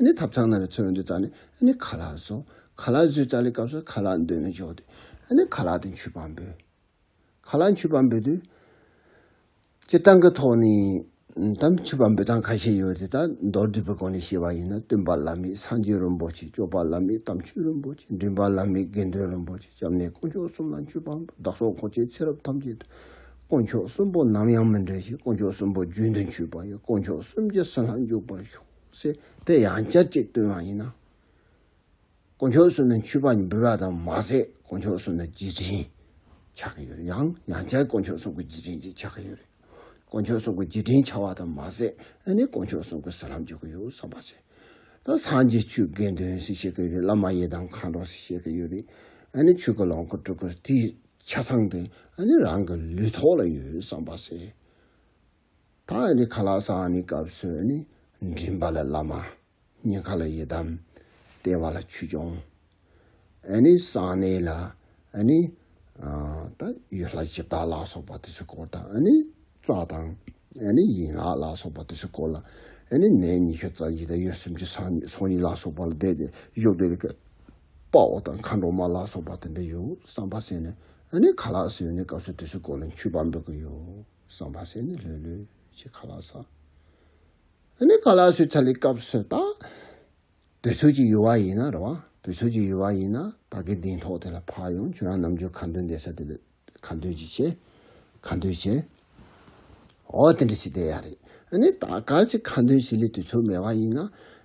ནི་ཐབ་ཚང་ན་རེ་ཚོད་རེ་འདོད་ཙང་ནི་ཁ་ལག་བཟོ། ཁ་ལག་བཟོས་ཙང་ལི་སྐབས་སུ་ཁ་ལག་འདོད་མི་འཇོག་དུས་ནི་ཁ་ལག་དུ་མཆུ་པ་འབུལ། ཁ་ལག་མཆུ་པ་འབུལ་དུས། སྤྱི་བཏང་གི་ཐོག་ནས་དང་མཆུ་པ་འབུལ་སྟངས་ཁ་ཤས་ཡོད་དེ་དག་མདོར་བསྡུས་པའི་སྒོ་ནས་བཤད་པ་ཡིན་ན་སྟོན་པ་བླ་མེད་སངས་རྒྱས་རིན་པོ་ཆེ་སྐྱོབ་པ་བླ་མེད་དམ་ཆོས་རིན་པོ་ཆེ་འདྲེན་པ་བླ་མེད་དགེ་འདུན་རིན་པོ་ཆེ་སྐྱབས་གནས་དཀོན་མཆོག་གསུམ་ལ་མཆུ་པ་འབུལ་བདག་སོགས་གོ་ཆའི་ཚེ་རབས་ཐམས་ཅད་དུ་དཀོན་མཆོག་གསུམ་པོ་ནམ་ཡང་མི་འབྲལ་ཞིང་དཀོན་མཆོག་གསུམ་པོ་རྒྱུན་དུ་མཆུ་པ་ཡི་དཀོན་མཆོག་གསུམ་གྱི་སྲིད་ལྷ་འཇུག་པར་ཤོག། སྲིད་པའི་ཡང་བསྐྱར་གཅིག་བཏོན་བ་ཡིན། དཀོན་མཆོག་སུ་ནི་འཁྱུད་པ་འབུལ་བ་དང་མ་ཟད་དཀོན་མཆོག་སུ་ནི་རྗེས་དྲན་ཆགས་ཀྱི་ཡོད་ཡང་ཡང་བསྐྱར་དཀོན་མཆོག་སུ་གུ་རྗེས་དྲན་གྱི་ཆགས་ཀྱི་ཡོད། དཀོན་མཆོག་སུ་གུ་རྗེས་དྲན་ཆགས་བ་དང་མ་ཟད་ཨ་ནི་དཀོན་མཆོག་སུ་གུ་ཟ་ལམ་འཇུག་གི་ཡོད་བསམ་པ་བྱེད། ད་སངས་རྒྱས་ཆོས་དགེ་འདུན་སུ་ཤེས་ཀྱི་ཡོད་བླ་མ་ཡེ་དང་མཁའ་འགྲོ་སུ་ཤེས་ཀྱི་ཡོད་རེད་ཨ་ནི་ཆོས་ཀྱི་ལོངས་སྐུ་སྤྲུལ་སྐུ་དེའི་ཆ་ཚང་དེ་ཨ་ནི་རང་གི་ལུས་ཐོག་ལ་ཡོད་བསམ་པ་བྱེད། ད་ནི་ཁ་ལག་སང་ནི་སྐབས་སུ་ནི། མགྲིན་པ་ལ་བླ་མ། སྙིང་ཁ་ལ་ཡི་དམ། ལྟེ་བ་ལ་ཆོས་སྐྱོང། ཨ་ནི་གསང་གནས་ལ་ཨ་ནི། ད་ཡུལ་ལྷ་སྤྱི་བདག་ལ་སོགས་པ་དེ་ཚོའི་སྐོར་དང་ཨ་ནི། རྩ་དང། ཨ་ནི་ཡན་ལག་ལ་སོགས་པ་དེ་ཚོའི་སྐོར་ལ། ཨ་ནི་ནད་ཉི་ཤུ་རྩ་གཉིས་དང་ཡུལ་སུམ་ཅུ་སྲང་གཉིས་སོ་གཉིས་ལ་སོགས་པ་ལ་བཟླས་ཏེ་གཞུག་བཟླས་པའི་སྐབས། དཔའ་བོ་དང་མཁའ་འགྲོ་མ་ལ་སོགས་པ་དེ་འདྲ་ཡོད་བསམ་པ་བསྲེས་ནས་ཨ་ནི་ཁ་ལག་སེའུ་ནི་སྐབས་སུ་དེ་ཚོའི་སྐོར་ལ་འཁྱུད་པ་འབུལ་གྱི་ཡོད། གསོན་པ་ཟེར་ནས་ལྷོད་ལྷོད་ཅིག་ག་ལ་ས། ཨ་ནི་ག་ལ་སུས་ཚ་ལི་སྐབས་སུ་ད། དུས་ཚོད་ཀྱི་ཡུ་བ་ཡིན་ན་རེད་བ། དུས་ཚོད་ཀྱི་ཡུ་བ་ཡིན་ན་ད་གི་གདིང་ཐོག་དེ་ལ་འཕགས་ཡོང་ཁྱོད་རང་ནམ་རྒྱུན་ག་འདོད་འདོད་ས་དེ་ལས་ག་འདོད་ཅིག་བྱེད། ག་འདོད་བྱེད། འོ་དེ་འདྲ་ཞིག་བསྡད་ཡ་རེད། ཨ་ནི་ད་ག་ཅིག་ག་འདོད་བྱེད་ལི་དུས་ཚོད་མེད་བ་ཡིན་ན།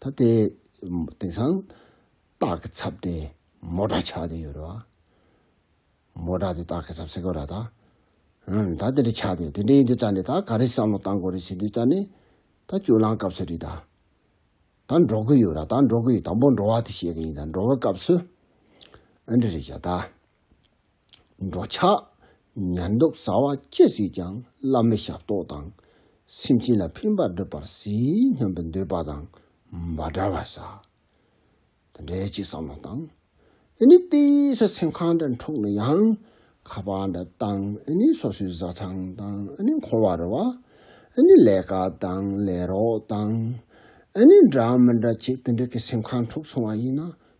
ད་ལྟའི་དེང་སང་སྟག་གི་ཚབ་དེ་མོ་དགྲ་ཆགས་དེ་ཡོད་རེད་བ། མོ་དགྲ་དེ་སྟག་གི་ཚབ་སེ་གོ་ར་ད། ཧུན་ད་དེ་འདྲ་ཆགས་དེ་དེ་འདྲ་ཡིན་དུས་ཙང་ནི་ད་ག་རེ་བསམ་བློ་བཏང་དགོས་རེད་ཟེར་དུས་ཙང་ནི་ད་བཅུག་ལང་སྐབས་སུ་རེད་ད། ད་འགྲོ་གི་ཡོད་ར་ད་འགྲོ་གི་ཡོད་དང་པོ་འགྲོ་བ་དེ་བཤད་གི་ཡིན་ད་འགྲོ་བའི་སྐབས་སུ་ཨ་འདྲ་རེད་བྱ་ད། འགྲོ་འཆག། ཉལ་འདུག་ཟ་བ་ཅི་ཟིག་ཀྱང་བླ་མེད་ཞབས་ཏོག་དང། སེམས་ཅན་ལ་ཕན་པར་བསྒྲུབ་པར་ཟིལ་གནོན་པའི་འདོད་པ་དང་མ་འདྲ་བར་ཟ། དེ་འདྲའི་སྤྱི་བསམ་བློ་བཏང། འི་ནི་དཔེ་ཟ་སེམས་ཁ་འདྲ་འཁྲུགས་ན་ཡང། ཁ་པ་འདྲ་བཏང། འི་ནི་སོ་སོའི་བཟའ་ཚང་དང། འི་ནི་འཁོར་བ་རོལ་བ། འི་ནི་ལས་ཀ་དང་ལས་རོགས་དང། འི་ནི་འདྲ་མི་འདྲ་བྱེད་དེ་འདྲ་གི་སེམས་ཁ་འཁྲུགས་སོང་བ་ཡིན་ན་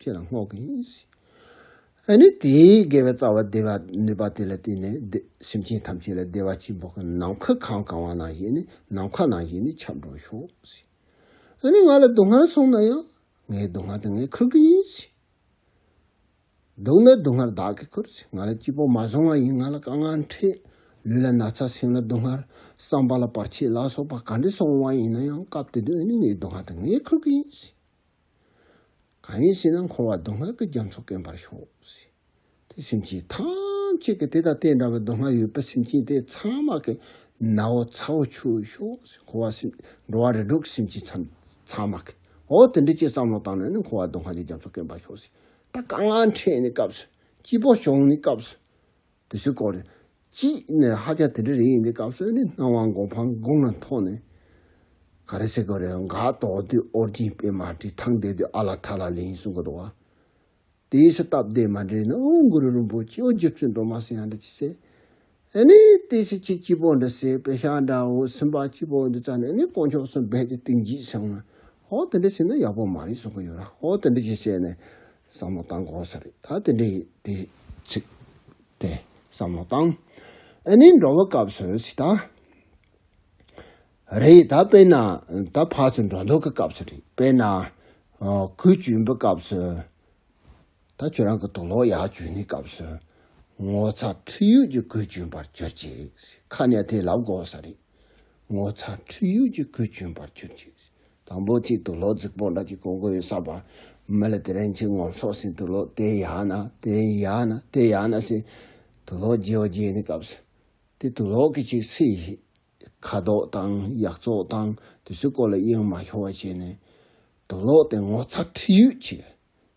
ཁྱེད་ལ་བསྔོག་གི་ཡིན། ཨ་ནི་དེས་དགེ་བའི་རྩ་བ་བདེ་བ་ནུས་པ་དེ་ལ་བརྟེན་ནས་སེམས་ཅན་ཐམས་ཅད་ལ་བདེ་བ་སྐྱིད་པོ་གང་ནམ་མཁའ་གང་གང་བ་ནང་བཞིན་ནམ་མཁའ་ནང་བཞིན་ཁྱབ་འགྲོ་ཤོག། ཨ་ནི་ང་ལ་སྡུག་བསྔལ་སོང་ན་ཡང་ངའི་སྡུག་བསྔལ་དེ་ངས་འཁུར་གི་ཡིན། སྡུག་ན་སྡུག་བསྔལ་བདག་གིས་འཁུར། ང་ལ་སྐྱིད་པོ་མ་བཟུང་བ་ཡིན་ང་ལ་དཀའ་ངལ་འཕྲད། ལུས་ལ་ན་ཚ་སེམས་ལ་སྡུག་བསྔལ། བསམ་པ་ལ་བར་ཆད་ལ་སོགས་པ་ག་འདྲས་སོང་བ་ཡིན་ན་ཡང་སྐབས་དེ་དུས་ཨ་ནི་ངའི་སྡུག་བསྔལ་དེ་ངས་འཁུར་གི་ཡིན། གང་ཡིན་ཞེ་ན་འཁོར་བ་སྡུག་བསྔལ་གྱི་རྒྱ་མཚོ་སྐེམ་པར་ཤོག། དེ་སེམས་ཅན་ཐམས་ཅད་ཀྱི་དེ་དང་དེ་འདྲ་བའི་སྡུག་བསྔལ་ཡོད་པ་སེམས་ཅན་དེ་ཚང་མ་གི་ན་འོ་ཚ་བོ་ཆུ་ཤོག་འཁོར་བ་སེམས་འགྲོ་བ་རེ་སྒྲོག་གི་སེམས་ཅན་ཚང་མ་གི་འོ་དེ་འདི་ཅེས་བསམ་བློ་བཏང་ནས་ནི་འཁོར་བ་སྡུག་བསྔལ་གྱི་རྒྱ་མཚོ་སྐེམ་པར་ཤོག། ད་དཀའ་ངལ་འཕྲད་ནས་སྐབས་སུ་སྐྱིད་པོ་བྱུང་ནས་སྐབས་སུ། དུ་ཞུ་སྐོར། གཅིག་ནས་ཧ་ཅང་དེ་འདྲ་རེད་ཡིན་དེ་སྐབས་སོན་ནི་སྣང་བ་མགོ་འཕང་སྒོང་ལ་མཐོང་ནས། ག་རེ་བྱེད་དགོས་རེད་འོ་འགའ་དོགས་དུས་ཨོ་རྒྱན་པད་མ་བཀྲིས་ཐང་བསྡད་དུས་ཨ་ལ་ཐ་ལ་ལེ་ཡིན་གསུང་གི་འདུག་བ། དེའི་ཕྱིར་སྟབས་བདེ་མ་འདྲེས་ན་ཨོ་གུ་རུ་རིན་པོ་ཆེའོ་རྗེ་བཙུན་འགྲོ་མ་སྲིན་ཡང་འདྲ་ཅི་ཟེར། ཨེ་ནས་ལྟས་ཤིག་ཁྱི་སྐྱིད་པོ་འདྲ་ཟེར་པད་ཤག་འདྲ་འོ་སེམས་པ་སྐྱིད་པོ་འདི་བཙལ་ནས་ཨེ་ནས་དཀོན་མཆོག་སུ་འབད་དེ་ཏིང་འཇིགས་བྱུང། ཧོ་དེ་འདྲ་བྱས་ན་ཡག་པོ་མ་རེད་གསུང་གི་ཡོད་ར་ཧོ་དེ་འདྲ་ཅིག་བྱས་ནས་བསམ་བློ་བཏང་དགོས་ས་རེད་ད་དེ་འདྲའི་དེ་ཚིག་དེ་བསམ་བློ་བཏང་ཨེ་ནི་འགྲོ་བའི་སྐབས་སུ་ཞིག་ད་རེད་ད་དཔེར་ན་ད་ཕར་ཚུར་འགྲོ་འདུག་གི་སྐབས་སུ་རེད་དཔེར་ན་གོས་གྱོན་པའི་སྐབས་སུ་ད་ཁྱོད་རང་གི་དུག་ལོག་ཡག་གྱོན་ནས་སྐབས་སུ་ངོ་ཚ་ཁྲིད་ཡུལ་གྱི་གོས་གྱོན་པར་གྱུར་ཅིག་ཁ་ནས་དེ་ལབ་དགོས་ས་རེད་ངོ་ཚ་ཁྲིད་ཡུལ་གྱི་གོས་གྱོན་པར་གྱུར་ཅིག་དང་པོ་གཅིག་ཏུ་ལོ་རྫིག་པོ་ལ་གཅིག་གོ་དགོས་ས་པ། མི་ལ་དེ་རིང་ཆིག་ངོམ་སོགས་ཟིན་དུ་ལོ་དེ་ཡག་ན་དེ་ཡག་ན་དེ་ཡག་ན་ཟིན་དུ་ལོ་རྒྱས་བ་རྒྱས་ནི་སྐབས་སུ་དེ་དུ་ལོ་གི་ཅིག་སྲིད་ཞི་ཁ་དོག་དང་ཡག་བཙོག་དང་དུས་ཚོད་སྐོར་ལ་གཡེང་མ་ཤོར་བ་བྱས་ནས་དུ་ལོ་དེ་ངོ་ཚ་ཁྲིད་ཡུལ་གྱི་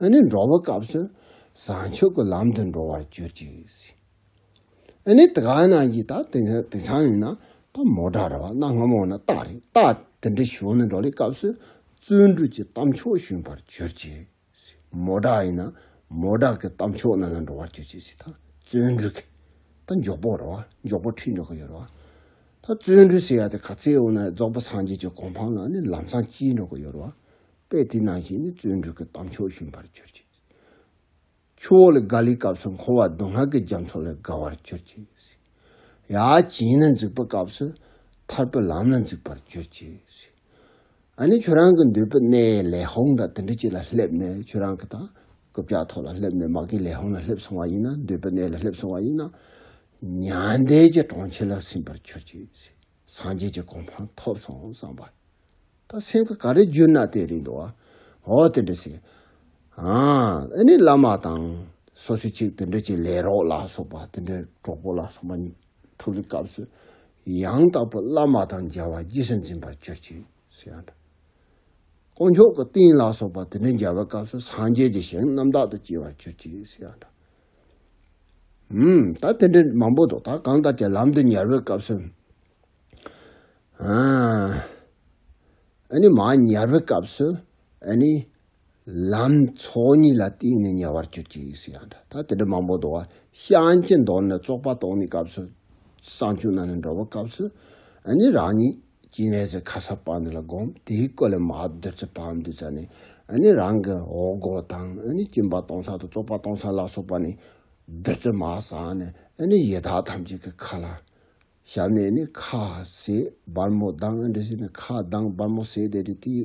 ཨ་ནི་འགྲོ་བའི་སྐབས་སུ་བཟང་ཕྱོགས་ཀྱི་ལམ་དུ་འགྲོ་བར་གྱུར་ཅིག། ཨ་ནི་དེ་ག་ན་ཡི་ད་དེ་ཚང་ཡིན་ན་ད་མོ་དྲ་ར་བ་གནའ་སྔ་མོ་ན་རྟ་རེད་རྟ་དེ་འདྲ་ཞོན་ནས་འགྲོ་ལེ་སྐབས་སུ་བརྩོན་འགྲུས་ཀྱི་གཏམ་ཕྱོགས་ཞོན་པར་གྱུར་ཅིག། མོ་དྲ་ཡིན་ན་མོ་དྲ་ཀྱི་གཏམ་ཕྱོགས་ན་ལ་འགྲོ་བར་གྱུར་ཅིག་ད་བརྩོན་འགྲུས་ཀྱི་ད་མགྱོགས་པོ་ར་བ་མགྱོགས་པོ་ཁྲིད་འགྲོ་གི་ཡོད་ར་བ་ད་བརྩོན་འགྲུས་ཟེར་ཡ་དེ་ག་ཚེའི་འོག་ན་རྫོགས་པ་སངས་རྒྱས་ཀྱི་གོ་འཕང་ལ་ནི་ལམ་སང་སྐྱིལ་འགྲོ་གི་ཡོད་ར་བ་པས་དེ་ནང་བཞིན་ནི་བརྩོན་འགྲུས་ཀྱི་དམ་ཆོས་ཞུམ་པར་གྱུར་ཅིག། ཆུ་བོ་ལས་དགའ་ལིའི་སྐབས་སུ་འཁོར་བ་སྡུག་བསྔལ་གྱི་རྒྱ་མཚོ་ལས་དགའ་བར་གྱུར་ཅིག། ཡ་བྱིན་ལ་འཇུག་པའི་སྐབས་སུ་ཐར་པའི་ལམ་ལ་འཇུག་པར་གྱུར་ཅིག། ཨ་ནི་ཁྱོད་རང་གི་འདོད་པའི་གནས་ལས་ཧཱུྃ་དང་དུ་འདྲི་གཅིག་ལ་སླེབ་ནས་ཁྱོད་རང་གི་དང་ཀུ་བྱ་ཐོག་ལ་སླེབ་ནས་མ་གི་ལས་ཧཱུྃ་ལ་སླེབ་སོང་བ་ཡིན་ན་འདོད་པའི་གནས་ལ་སླེབ་སོང་བ་ཡིན་ན། མྱང་འདས་ཀྱི་གྲོང་ཁྱེར་ལ་ཟིན་པར་གྱུར་ཅིག། སངས་རྒྱས་ཀྱི་གོ་འཕང་ཐོབ་སོང་བསམ་པ། ད་སེམས་ཀྱི་ག་རེ་བསྒྱུར་ན་དེ་རིང་འགྲོ་བ། འོ་དེ་འདྲ་ཞིག། ཨཱ། ཨཱ་ནི་བླ་མ་དང། སོ་སོའི་ཆེད་དུ་འདི་འདྲ་ཅིག་ལས་རོགས་ལ་སོགས་པ་དེ་འདྲའི་གྲོགས་པོ་ལ་སོགས་པ་ཐུག་པའི་སྐབས་སུ། ཡང་དག་པའི་བླ་མ་དང་མཇལ་བ་རྗེས་སུ་འཛིན་པར་གྱུར་ཅིག་སོགས་ཡང་འདྲ། དཀོན་མཆོག་གི་རྟེན་ལ་སོགས་པ་དེ་འདྲའི་མཇལ་བའི་སྐབས་སུ་སངས་རྒྱས་ཀྱི་ཞིང་རྣམ་དག་ཏུ་སྐྱེ་བར་གྱུར་ཅིག་སོགས་ཡང་འདྲ། ད་དེ་འདྲའི་མང་པོ་འདུག་ད་གང་ལྟར་དེ་ལམ་དུ་ཉར་བའི་སྐབས་སུ། ཨ་ནི་མ་ཉར་བའི་སྐབས་སུ་ཨ་ནི་ལམ་ཚོགས་གཉིས་ལ་བརྟེན་ནས་ཉར་བར་གྱུར་ཅིག་ཟེར་ཡང་འདྲ་ད་དེ་འདྲའི་མང་པོ་འདུག་བ་ཤང་གཅིག་འདོར་ནས་བཙོག་པ་གཏོང་ནས་སྐབས་སུ། སྲང་བཅུ་ན་ནས་འགྲོ་བའི་སྐབས་སུ་ཨ་ནི་རང་ཉིད། སྐྱེ་གནས་ཀྱི་ཁ་ས་སྤངས་ནས་ལ་བསྒོམ། དེའི་སྐུ་ལས་མ་བདུད་རྩི་སྤངས་བདུད་རྩི་ནི། ནི་རང་གི་འོག་སྒོ་དང་ནི་སྐྱིན་པ་སྟོང་ས་དང་བཙོག་པ་སྟོང་ས་ལ་སོགས་པ་ནི། བདུད་རྩི་མ་སངས་ནས་ནི་ཡི་དྭགས་ཐམས་ཅད་ཀྱི་ཁ་ལ། ཞབས་ནས་ནི་ཁ་ཟས་སྦར་མོ་གདངས་འདྲེ་ཟས་ནི་ཁ་གདངས་སྦར་མོ་ཟས་བདེ་དྲི་དེའི།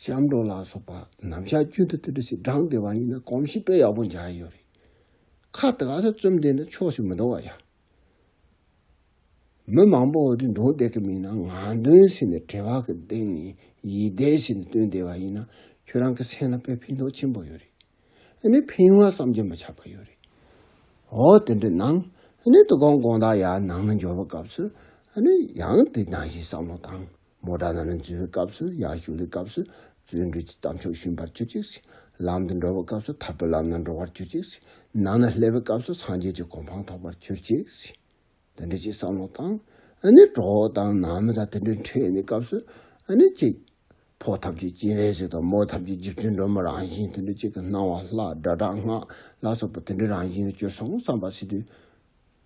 སྐྱབས་འགྲོ་ལ་སོགས་པ་ནམ་ཞག་བཅུ་དང་བཅུ་དྲུག་ཞིག་བགྲང་བདེ་བ་ཡིན་ན་གོམས་གཤིས་དཔེ་ཡག་པོ་འཇགས་ཡོད་རེད། ཁ་དགའ་ས་རྩོམ་བདེ་འདྲ་ཕྱོགས་སུ་མི་འདོང་བ་ཡག། མི་མང་པོ་འོག་ཏུ་འདོན་བསྡད་ཀྱི་མིན་ན་ང་འདོན་ཟེར་ནས་དྲི་བ་གི་སྟེང་ནས་ཡིད་བདེ་བྱས་ནས་བཏོན་བསྡད་པ་ཡིན་ན་ཁྱོད་རང་གི་སེམས་ལ་དཔེ་ཕན་ཐོགས་ཆེན་པོ་ཡོད་རེད། འདི་ནས་ཕན་ཡོང་བ་བསམ་གྱི་མི་ཆགས་པ་ཡོད་རེད། འོ་དེ་འདྲ་གནང། འདི་གོང་དགོངས་དག་ཡར་ནང་ན་འབྱོར་བ་སྐབས་སུ། ཡང་དེ་ནང་བཞིན་བསམ་བློ་བཏང། མོ་བྲ་ན་ལན་བཙུན་པའི་སྐབས་སུ་ཡག་བཞུགས་ལས་སྐབས་སུ་བརྩོན་འགྲུས་ཀྱི་དམ་ཆོས་ཞུམ་པར་གྱུར་ཅིག། ལམ་དུ་འགྲོ་བའི་སྐབས་སུ་ཐར་པའི་ལམ་ན་འགྲོ་བར་གྱུར་ཅིག། ནང་ན་སླེབས་པའི་སྐབས་སུ་སངས་རྒྱས་ཀྱི་གོ་འཕང་ཐོབ་པར་གྱུར་ཅིག། དེ་འདྲ་ཅིག་བསམ་མོ་དང། ནི་གྲོགས་དང་ནང་མི་དང་དེ་འདྲའི་འཕྲད་ཡོད་ནས་སྐབས་སུ། ནི་ཅིག། ཕོ་ཐབས་ཀྱི་སྤྱན་རས་གཟིགས་དང་མོ་ཐབས་ཀྱི་རྗེ་བཙུན་སྒྲོལ་མ་རང་བཞིན་དེ་འདྲ་ཅིག་གི་སྣང་བ་ལྷ་སྒྲ་དྲག་སྔགས་ལ་སོགས་པ་དེ་འདྲའི་རང་བཞིན་ལ་སྤྱོད་སོང་བསམ་པ་སྲིད་དུས།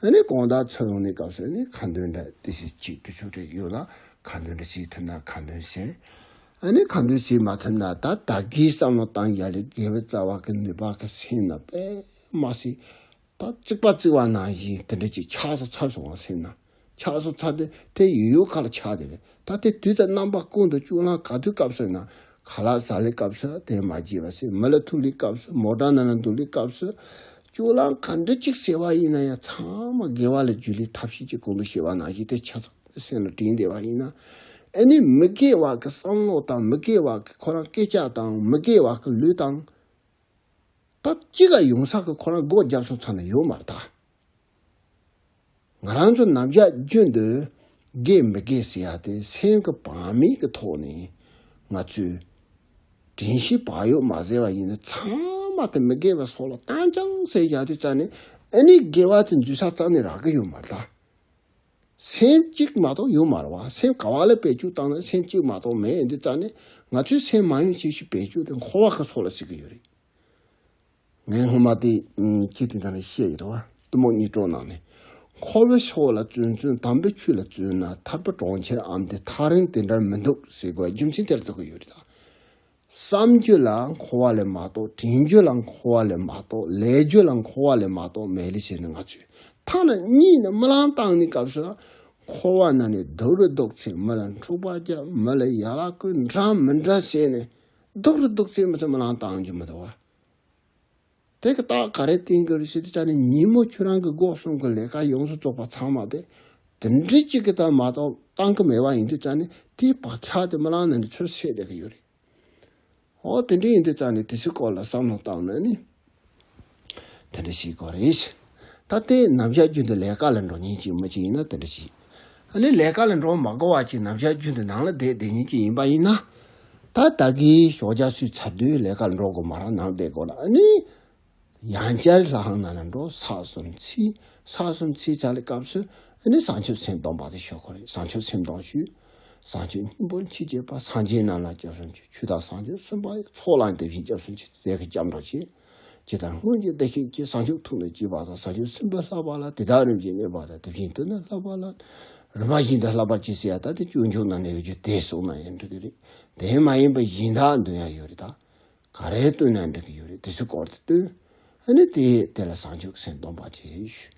ཨ་ནི་གང་དག་ཚུར་འོང་ནས་སྐབས་སུ་ནི་གང་འདོད་འདྲ་དེ་བཞིན་གཅིག་དུ་ཆུག་དྲེགས་ཡོད་ལ་གང་འདོད་འདྲ་གཅིག་ཐུབ་ན་གང་འདོད་གཞན་ཨ་ནི་གང་འདོད་ཅིག་མ་ཐུབ་ན་ད་ད་གིའི་བསམ་བློ་བཏང་ཡ་ལས་དགེ་བའི་རྩ་བ་གི་ནུས་པ་གི་སེམས་ན་པད་མ་ཞིག་ད་རྩིག་པ་རྩིག་བ་ན་བཞིན་དེ་འདྲ་ཅིག་ཆགས་སོ་ཚར་སོང་བ་སེམས་ན་ཆགས་སོ་ཚར་དུས་དེ་ཡོད་ཡོད་ག་ལ་ཆགས་དེ་རེད་ད་དེ་དུས་ད་རྣམ་པ་ཀུན་ཏུ་བཅུག་ལ་ག་དུས་སྐབས་སུ་ན་ཁ་ལག་ཟ་ལའི་སྐབས་སུ་དེ་མ་བརྗེད་པ་སྲིན་མོ་ལ་ཐུག་ལུས་སྐབས་སུ་མོ་བྲང་ན་ལ་འདུག་ལུས་སྐབས་སུ། ཅུང་ལ་མཁའ་འགྲོ་གཅིག་ཟེར་བ་ཡིན་ན་ཡང་ཚང་མ་དགེ་བ་ལ་རྒྱུ་ལས་ཐབས་ཤེས་ཀྱི་གོང་དུ་ཤེས་པ་ནང་བཞིན་དེ་ཆ་ཚང་དུ་སེམས་ལ་དྲིལ་འདེབས་པ་ཡིན་ན། ཨེ་ནི་མི་དགེ་བ་གི་བསམ་བློ་དང་མི་དགེ་བ་གི་ཁོ་རང་སྐད་ཆ་དང་མི་དགེ་བ་གི་ལུས་དང། སྟབས་ཅི་ག་ཡོང་ས་གི་ཁོ་རང་སྒོ་རྒྱབ་སོང་ཚང་ན་ཡོད་མ་རེད་ད། ང་རང་ཚོ་ནམ་ཞག་རྒྱུན་དུ་དགེ་མི་དགེ་ཟེར་ཡག་དེ་སེམས་ཀྱི་བག་མེད་ཀྱི་ཐོག་ནས་ང་ཚོས་དྲན་ཤེས་བག་ཡོད་མ་ཟེར་བ་ཡིན་ན་ཚང་མ་དེ་མི་དགེ་བའི་སོགས་ལ་བཏང་རྐྱང་ཟེར་ཡག་དུས་རྩ་ནས་ཨ་ནི་དགེ་བ་དེ་འཛུལ་ས་རྩ་ནས་རག་གི་ཡོད་མ་རེད། སེམས་གཅིག་མ་གཏོགས་ཡོད་མ་རེད་བ་སེམས་ག་བ་ལ་བེད་སྤྱོད་བཏང་ན་སེམས་གཅིག་མ་གཏོགས་མེད་འདི་རྩ་ནས་ང་ཚོས་སེམས་མ་ཡོང་ཅི་ཞིག་བེད་སྤྱོད་དེ་འཁོར་བ་གི་སོགས་ལ་ཟེར་གི་ཡོད་རེད། ངས་སྔོན་མ་དེ་སྐད་དེ་དང་རེ་བཤད་ཡོད་རེད་བ། གཏི་མུག་གཉིས་གྲོགས་གནང་ནས། ཁོ་བོས་ཤོག་བུ་ལ་བཙོན་བཙོན་དམ་པའི་ཆོས་ལ་བཙོན་ན་ཐར་པ་གྲོང་ཁྱེར་ཨམ་དེ་ཐག་རིང་དེ་འདྲར་མི་འདུག་ཟེར་དགོས་རྒྱུ་མཚན་དེར་འདུག་གི་ཡོད་རེད་ད། བསམ་རྒྱུ་ལ་མཁོ་བ་ལས་མ་གཏོགས་དྲན་རྒྱུ་ལ་མཁོ་བ་ལས་མ་གཏོགས་ལས་རྒྱུ་ལ་མཁོ་བ་ལས་མ་གཏོགས་མེད་རེད་བྱས་ནས་ང་ཚོས་ཐག་ན་གཉིད་ནས་རྨི་ལམ་བཏང་ནས་སྐབས་སུ་འཁོར་བ་ན་ནས་རྡོ་རུ་བཟློག་ཚེ་མི་ལ་འཁྲུག་པ་བརྒྱབ་མི་ལ་ཡ་ལ་སྐུལ་འདྲ་མི་འདྲ་བྱས་ནས་རྡོ་རུ་བཟློག་ཚེ་མི་ཚོ་རྨི་ལམ་བཏང་རྒྱུ་མི་འདུག་བ། དེ་གི་རྟགས་ག་རེ་བསྟན་གི་རེད་ཞེས་དེ་ཅག་ནི་ཉིན་མོ་ཁྱོད་རང་གི་འགོག་སྲུང་གི་ལས་ཀ་ཡོངས་སུ་རྫོགས་པ་ཚང་མ་དེ་དེ་འདྲི་གཅིག་གི་དང་མ་གཏོགས་བཏང་གི་མེད་པ་ཡིན་དུས་ཅག་ནི་དེའི་བག་ཆགས་དེ་མི་ལང་ནས་ནི་ཚུར་ཤེས་བསྡད་གི་ཡོད་རེད། ཨོ་དེ་འདྲི་ཡིན་དུས་ཅག་ནི་དེ་ཚོའི་སྐོར་ལ་བསམ་བློ་བཏང་ནས་ནི་དེ་འདྲི་བྱེད་དགོས་རེད། ད་དེ་ནམ་བཞག་རྒྱུ་འདི་ལས་ཀ་ལ་འགྲོ་ཉིན་གཅིག་མི་གཅིག་ཡིན་ན་དེ་འདྲི་བྱེད། ནི་ལས་ཀ་ལ་འགྲོ་མ་དགོས་བ་ཅིག་ནམ་ཞག་རྒྱུན་དུ་ནང་ལ་བསྡད་བསྡད་ཉིན་གཅིག་ཡིན་པ་ཡིན་ན། ད་ལྟ་གི་ཞོགས་ཇག་སུས་ཚར་དུས་ལས་ཀ་ལ་འགྲོ་དགོས་མ་རང་ནང་བསྡད་དགོས་ལ་ནི། ཡང་བསྐྱར་ལྷ་ཁང་ནང་ལ་འགྲོ་ས་གསུམ་ཚིག་ས་གསུམ་ཚིག་ཆགས་ལས་སྐབས་སུ་ནི་བཟང་སྤྱོད་སེམས་གཏོང་པ་དེ་ཞོགས་ཁོ་རེད་བཟང་སྤྱོད་སེམས་གཏོང་ཞུས། བཟང་སྤྱོད་སྙིང་པོ་ཕྱི་རྒྱལ་པ་སངས་རྒྱས་རྣམས་ལ་སྐྱབས་སུ་མཆི་ཆུ་དང་བཟང་སྤྱོད་གསུམ་པ་ཚོགས་ལ་འདེབས་བཞིན་སྐྱབས་སུ་མཆི་ཟས་ཀྱི་སྐྱབས་འགྲོ་བྱེད། ཇི་ལྟར་སྔོན་གྱི་བདེ་གཤེགས་ཀྱིས་བཟང་སྤྱོད་ཐུགས་ལ་བསྐྱེད་པ་དང་བཟང་སྤྱོད་སེམས་དཔའ་ལྷག་པ་ལ་དེ་དག་རིམ་བཞིན་གནས་པ་དང་དེ་བཞིན་དུ་ནི་ལྷག་པ་ལ། རིམ་པ་བཞིན་དུ་ལྷག་པར་བྱེད་སྲིད་ཡ་ད་དེ་སྤྱོད་འཇུག་ན་ནི་ཡོད་རྒྱུ་དེ་གསུངས་ན་ཡང་འགྲིག་གི་རེད། དེ་མ་ཡིན་པར་གཞན་དག་འདོན་ཡ་ཡོད་རེད་ད། ག་རེ་བཏོན་ན་འགྲིག་གི་ཡོད་རེད་དེ་ཚོའི་སྐོར་དུ་བཏོན། ཨ་ནི་དེས་དེ་ལ་བཟང་སྤྱོད་ཀྱི་སེམས་སྟོང་པར་བྱེད།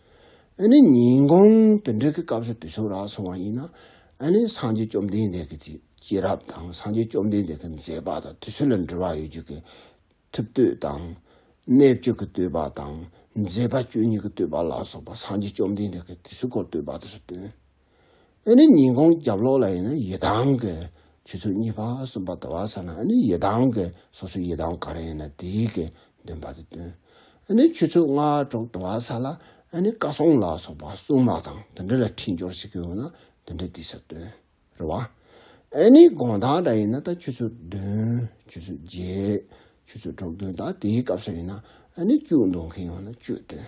ཨེ་ནི་ཉིན་གུང་དེ་འདྲའི་གི་སྐབས་སུ་དུས་ཚོད་རག་སོང་བ་ཡིན་ན། ཨེ་ནི་སངས་རྒྱས་བཅོམ་ལྡན་འདས་ཀྱི་སྐྱེས་རབས་དང་སངས་རྒྱས་བཅོམ་ལྡན་འདས་ཀྱི་མཛད་པ་དང་དུས་ཚོད་ལ་འབྲེལ་བ་ཡོད་རྒྱུ་གི་ཐུབ་བསྟོད་དང། གནས་བཅུ་གི་བསྟོད་པ་དང་མཛད་པ་བཅུ་གཉིས་ཀྱི་བསྟོད་པ་ལ་སོགས་པ་སངས་རྒྱས་བཅོམ་ལྡན་འདས་ཀྱི་དུས་ཚོད་སྐོར་བསྟོད་པ་དེ་ཚོ་སྟོན། ཨཱ་ནི་ཉིན་གུང་རྒྱབ་ལོགས་ལ་ཡིན་ན་ཡི་དམ་གྱི་ཆུ་ཚོད་གཉིས་པ་གསུམ་པ་དང་བ་ས་ན་ཨཱ་ནི་ཡི་དམ་གྱི་སོ་སོའི་ཡི་དམ་ག་རེ་ཡིན་ན་དེའི་གི་འདོན་པ་དེ་འདོན། ཨཱ་ནི་ཆུ་ཚོད་ལྔ་དྲུག་དང་བ་ས་ལ་ཨཱ་ནི་བཀའ་སྲུང་ལ་སོགས་པ་སྲུང་མ་དང་དེ་འདྲ་ལ་འཕྲིན་སྦྱོར་བྱེད་ཀྱི་ཡོད་ན་དེ་འདྲ་དེ་སར་འདོན། རེད་བ། ཨཱ་ནི་དགོངས་དག་འདྲ་ཡིན་ན་ད་ཆུ་ཚོད་བདུན་ཆུ་ཚོད་བརྒྱད་ཆུ་ཚོད་དྲུག་འདོན་ད་དེའི་སྐབས་སུ་ཡིན་ན་ཨཱ་ནི་བཅུ་འདོན་མཁན་ཡོད་ན་བཅུ་འདོན།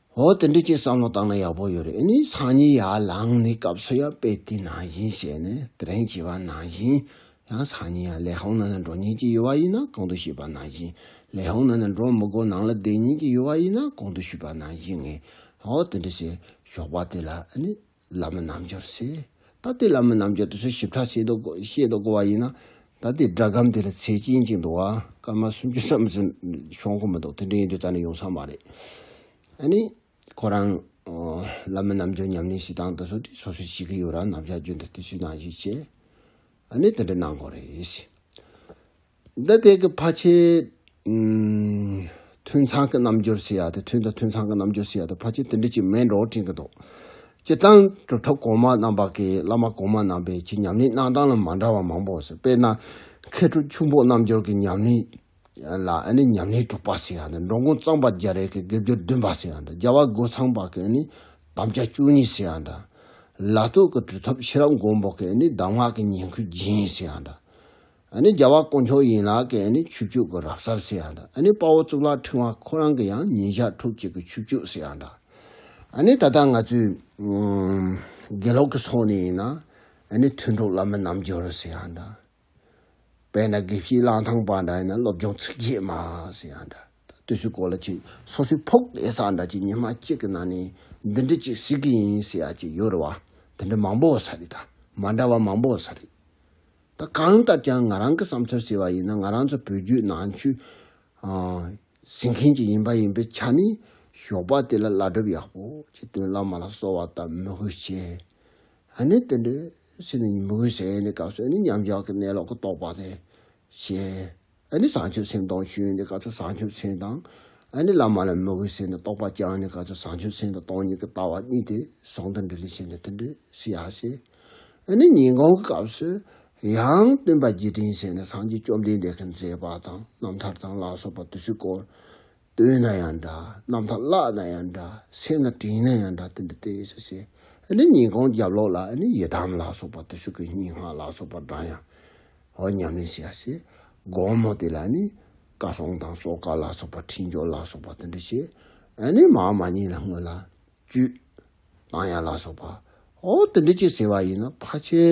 ཨོ་དེ་འདྲས་ཀྱི་བསམ་བློ་བཏང་ན་ཡག་པོ་ཡོད་རེད་ཨེ་ནི་སང་ཉིན་ཡར་ལངས་ནས་སྐབས་སུ་ཡང་དཔེ་དེ་ནང་བཞིན་བྱས་ནས་དྲན་གྱི་བ་ནང་བཞིན་ཡང་སང་ཉིན་ཡང་ལས་ཧོང་ནང་ན་འགྲོ་ཉེན་གྱི་ཡོད་བ་ཡིན་ན་གང་དུ་ཤེས་པ་ནང་བཞིན་ལས་ཧོང་ནང་ན་འགྲོ་མི་དགོས་ནང་ལ་བསྡད་ཉེན་གྱི་ཡོད་བ་ཡིན་ན་གང་དུ་ཤུས་པ་ནང་བཞིན་ངས་ཨོ་དེ་འདྲས་བྱས་ཞོགས་པ་དེ་ལ་ཨེ་ནི། བླ་མ་རྣལ་འབྱོར་བསྲེ། ད་ལྟའི་བླ་མ་རྣལ་འབྱོར་དུ་སོ་ཞིབ་ཕྲ་ཤེས་རྟོགས་བསྒོ་བ་ཡིན་ན། ད་ལྟའི་སྒྲ་སྒམ་དེ་ལ་ཚེ་སྐྱིན་ཅིག་འདུག་བ། སྐར་མ་སུམ་ཅུ་ཙམ་ཟིན་ཤོང་ཁོ་མི་འདུག་དེ་འདྲ་ཡིན་དུས་རྩ་ནས་ཡོང་ས་མ་རེད། ཨ་ནི། ཁོ་རང། བླ་མ་རྣལ་འབྱོར་ཉམས་ལེན་བྱེད་སྟངས་དེ་ཚོ་དེ་སོ་སོའི་གཤིས་ཀྱི་ཡོད་རང་རྣམས་བཞག་རྒྱུ་འདི་ལྟའི་ཚུལ་སྣང་ཞིག་བྱས། གནས་དེ་འདྲ་གནང་དགོས་རེད། འདི་ལྟེ་གི་ཕ་ཆེ། མཐུན་ཚང་གི་རྣམ་འགྱུར་ཞིག་ཡག་དེ་མཐུན་དང་མཐུན་ཚང་གི་རྣམ་འགྱུར་ཞིག་ཡག་དེ་ཕ་ཆེ་དེ་འདྲ་ཅིག་མེད་འགྲོ་དྲན་གི་འདུག་སྤྱི་བཏང་གྲུབ་ཐོབ་གོང་མ་རྣམ་པ་གི་བླ་མ་གོང་མ་རྣམ་པས་ཀྱི་ཉམས་ལེན་གནང་སྟངས་ལ་མ་འདྲ་བ་མང་པོ་སོ་དཔེར་ན་མཁས་གྲུབ་ཁྱུང་པོ་རྣམ་འགྱུར་གི་ཉམས་ལེན་ལ་ཨ་ནི་ཉམས་ལེན་དྲུག་པ་སིང་ཨ་ནི་འགྲོ་མགོན་གཙང་པ་རྒྱ་རས་ཀྱི་དགེ་བསྒྱུར་བདུན་པ་སིང་ཨ་འདྲ་རྒྱལ་བ་རྒོད་ཚང་པ་ཀྱི་ཨ་ནི་དམ་བཅའ་བཅུ་གཉིས་སིང་ཨ་འདྲ། ལ་སྟོད་ཀྱི་གྲུ་ཐོབ་ཤེས་རབ་མགོན་པོ་ཀྱི་ཨ་ནི་གདམས་ངག་གི་ཉིང་ཁུ་སྦྱིན་སིང་ཨ་འདྲ། ཨ་ནི་རྒྱལ་བ་དཀོན་མཆོག་ཡན་ལག་གི་ཨ་ནི་ཆུ་བཅུད་ཀྱི་རབ་གསར་སིང་ཨ་འདྲ་ཨ་ནི་དཔའ་བོ་གཙུག་ལག་ཕྲེང་བ་ཁོ་རང་གི་ཡང་ཉིན་ཞག་དྲུག་གཅིག་གི་ཆུ་བཅུད་སིང་ཨ་འདྲ། ཨ་ནི་ད་ལྟ་ང་ཚོའི་དགེ་སློབ་ཀྱི་སོགས་ནས་ཡིན་ན་ཨ་ནི་མཐུན་གྲོགས་བླ་མ་རྣམ་འབྱོར་སིང་ཨ་འདྲ། དཔེར་ན་དགེ་བཤེས་གླང་ཐང་པ་འདྲ་ཡིན་ན་སློབ་སྦྱོང་ཚིག་བརྒྱད་མ་ཟེར་ཡང་འདྲ། བསྟོད་ཚུལ་སྐོར་ལ་ཅིག་སོ་སོའི་ཕོག་བསྡད་ས་འདྲ་ཅིག་ཉི་མ་གཅིག་གི་ནང་ནས་འདི་འདྲི་ཅིག་ཟིག་གི་ཡིན་ཟེར་ཡ་ཅིག་ཡོད་རེད་བ། དེ་འདྲ་མང་པོ་ཟ་རེད་ད། མ་འདྲ་བ་མང་པོ་ཟ་རེད། ད་གང་བཏབ་ཀྱང་ང་རང་གི་བསམ་ཚུལ་ཟེར་བ་ཡིན་ན་ང་རང་ཚོ་བོད་བརྒྱུད་ནང་ཆོས་ཟིན་མཁན་ཅིག་ཡིན་པ་ཡིན་པའི་ཆ་ནས་ཞོགས་པ་དེ་ལ་བླ་སྒྲུབ་ཡག་པོ་ཅིག་སྟོན་བླ་མ་ལ་གསོལ་བ་བཏབ་མོས་གུས་བྱས། ཨ་ནི་དེ་འདྲའི་ཚེ་ནི་མི་དགོས་ཟེར་ཡས་ནི་སྐབས་སུ་ཨ་ནི་མཉམ་བཞག་གི་གནས་ལོག་གི་རྟོགས་པ་དེ་ཤེས། ཨ་ནི་བཟང་ཆོས་སེམས་དང་ཞུན་ནི་སྐབས་སུ་བཟང་ཆོས་སེམས་དང། ཨ་ནི་བླ་མ་ལ་མི་དགོས་ཟེར་ནི་རྟོགས་པ་བསྐྱང་ནི་སྐབས་སུ་བཟང་ཆོས་སེམས་དང་སྟོང་ཉིད་ཀྱི་ལྟ་བ་གཉིས་དེ་ཟུང་དུ་འབྲེལ་ཞེས་ནི་དེ་འདྲའི་ཚེ་ཡང་ཤེས། ཨ་ནི་ཉིན་གང་གི་སྐབས་སུ་ཡང་སྟོན་པ་རྗེས་དྲན་ཟེར་ནི་སངས་རྒྱས་བཅོམ་ལྡན་འདས་ཀྱི་མཛད་པ་དང་རྣམ་ཐར་དང་ལ་སོགས་པ་དུས་སུ་བསྐོར། བཏོན་ན་ཡང་འདྲ། རྣམ་ཐར་བཀླགས་ན་ཡང་འདྲ། སེམས་ལ་དྲིས་ན་ཡང་འདྲ་སྟོན་པའི་ལྟས་ཡོད་ས་ཟེར། ནི་ཉིན་གུང་རྒྱབ་ལོགས་ལ་ནི་ཡི་དམ་ལ་སོགས་པ་བརྟུལ་ཞུགས་ཀྱི་སྙིང་སྔགས་ལ་སོགས་པ་བགྲང་ཡང། ཧོ་ཉམས་ལེན་བྱས་ཡ་ཟེར། དགོང་མོ་དེ་ལ་ནི། བཀའ་སྲུང་དང་སྲོག་བཀའ་ལ་སོགས་པ་ཁྲིད་འཇོག་ལ་སོགས་པ་བསྟོད་འགྲེལ་བྱས། ནི་མ་འོངས་མ་ཉིད་ལ་སྔོན་ལ། བཅུད། བཏང་ཡ་ལ་སོགས་པ། ཧོ་བསྟོད་འགྲེལ་བྱས་ཟེར་བ་ཡིན་ནོ་ཕ་ཆེ།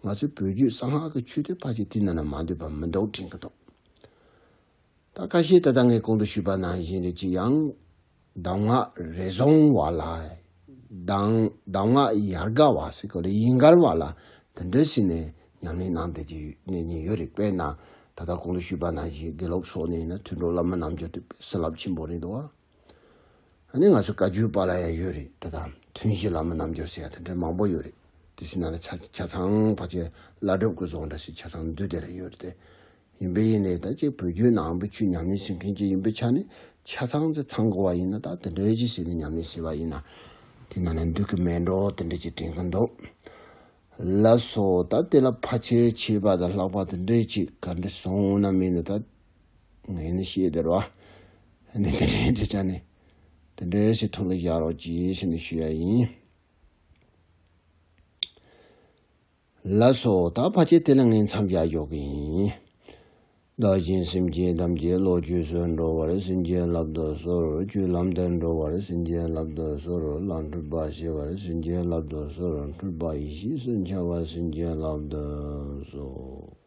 ང་ཚོའི་བོད་བརྒྱུད་གསང་སྔགས་ཀྱི་ཆོས་དེ་ཕ་ཆེ་དུས་ན་ན་མ་འདོད་པ་མི་འདོགས་དྲིན་གྱི་འདོགས། ད་ཀ་ཤེས་ད་ལྟ་ངས་གོང་དུ་ཞུས་པ་ནང་བཞིན་རེད་ཅི་ཡང་གདམས་ངག་རེ་བཟུང་བ་ལ་གདམས་ངག་ཡར་དགའ་བ་སི་ཀོ་ལི་ཡིན་དགར་བ་ལ་དེ་འདྲ་ཞིག་ནས་ཉམས་ལེན་གནང་སྡོད་ཀྱི་གནས་ཉིན་ཡོད་རེད་དཔེར་ན་ད་ལྟ་གོང་དུ་ཞུས་པ་ནང་བཞིན་དགེ་སློབ་སོགས་ནས་ནི་ཐུན་གྲོགས་བླ་མ་རྣམས་འབྱོར་དུས་པས་སེམས་རླབས་ཆེན་པོ་རེད་འདུག་བ། ཨ་ནི་ང་ཚོའི་བཀའ་བརྒྱུད་པ་ལ་ཡང་ཡོད་རེད་དེ་དང་ཐུན་བཞི་ལ་མོ་རྣམ་འབྱོར་ཟེར་ཡ་དེ་འདྲའི་མང་པོ་ཡོད་རེད་དེ་བཞི་ན་ལ་ཆ་ཆ་ཚང་བ་ཆེ་བླ་སྒྲུབ་དགོས་ཚོགས་འདྲ་ཞིག་ཆ་ཚང་འདུས་སྡེ་ལ་ཡོད་རེད་དེ་ཡིན་པས་ཡིན་ནའི་ད་ཅིག་བོད་བརྒྱུད་ནང་བུ་ཆུ་ཉམས་ལེན་བྱེད་མཁན་གཅིག་ཡིན་པའི་ཆ་ནས་ཆ་ཚང་ཆ་ཚང་དགོས་བ་ཡིན་ན་ད་དེ་འདྲའི་གཞི་ཞིག་ལ་ཉམས་ལེན་བྱེད་བ་ཡིན་ན་དེ་ན་ལ་འདུས་ཀི་མེད་འགྲོ་དེ་འདྲ་ཅིག་དྲན་གི་འདུག་ལ་སོ་ད་དེ་ལ་ཕ་ཆེ་ཆེ་བ་དང་ལྷག་པ་དེ་འདྲའི་ཅིག་ག་འདྲ་སོང་ན་མིན་ན་ད། ངས་ནི་ཤེས་བདེར་བ། འདི་འདི་འདྲའི་དུས་ཆ་ནས་དེ་འདྲའི་ཞིག་ཐུགས་ལ་བཞག་རོགས་གྱིས་ཞེས་ནི་ཞུས་ཡ་ཡིན། ལ་སོགས་ད་བར་གྱི་དེ་ལ་ངས་མཚམས་བཞག་ཞོག་གི་ཡིན། བདག་གཞན་སེམས་ཅན་ཐམས་ཅད་བློ་བཅོས་སུ་འགྲོ་བར་སེམས་ཅན་བསླབ་དུ་གསོལ་བཅུད་ལམ་དུ་འགྲོ་བར་སེམས་ཅན་བསླབ་དུ་གསོལ་ལ་འཁྲུལ་པ་ཞི་བར་སེམས་ཅན་བསླབ་དུ་གསོལ་འཁྲུལ་པ་ཡེ་ཤེས་སུ་འཆར་བར་སེམས་ཅན་བསླབ་དུ་གསོལ།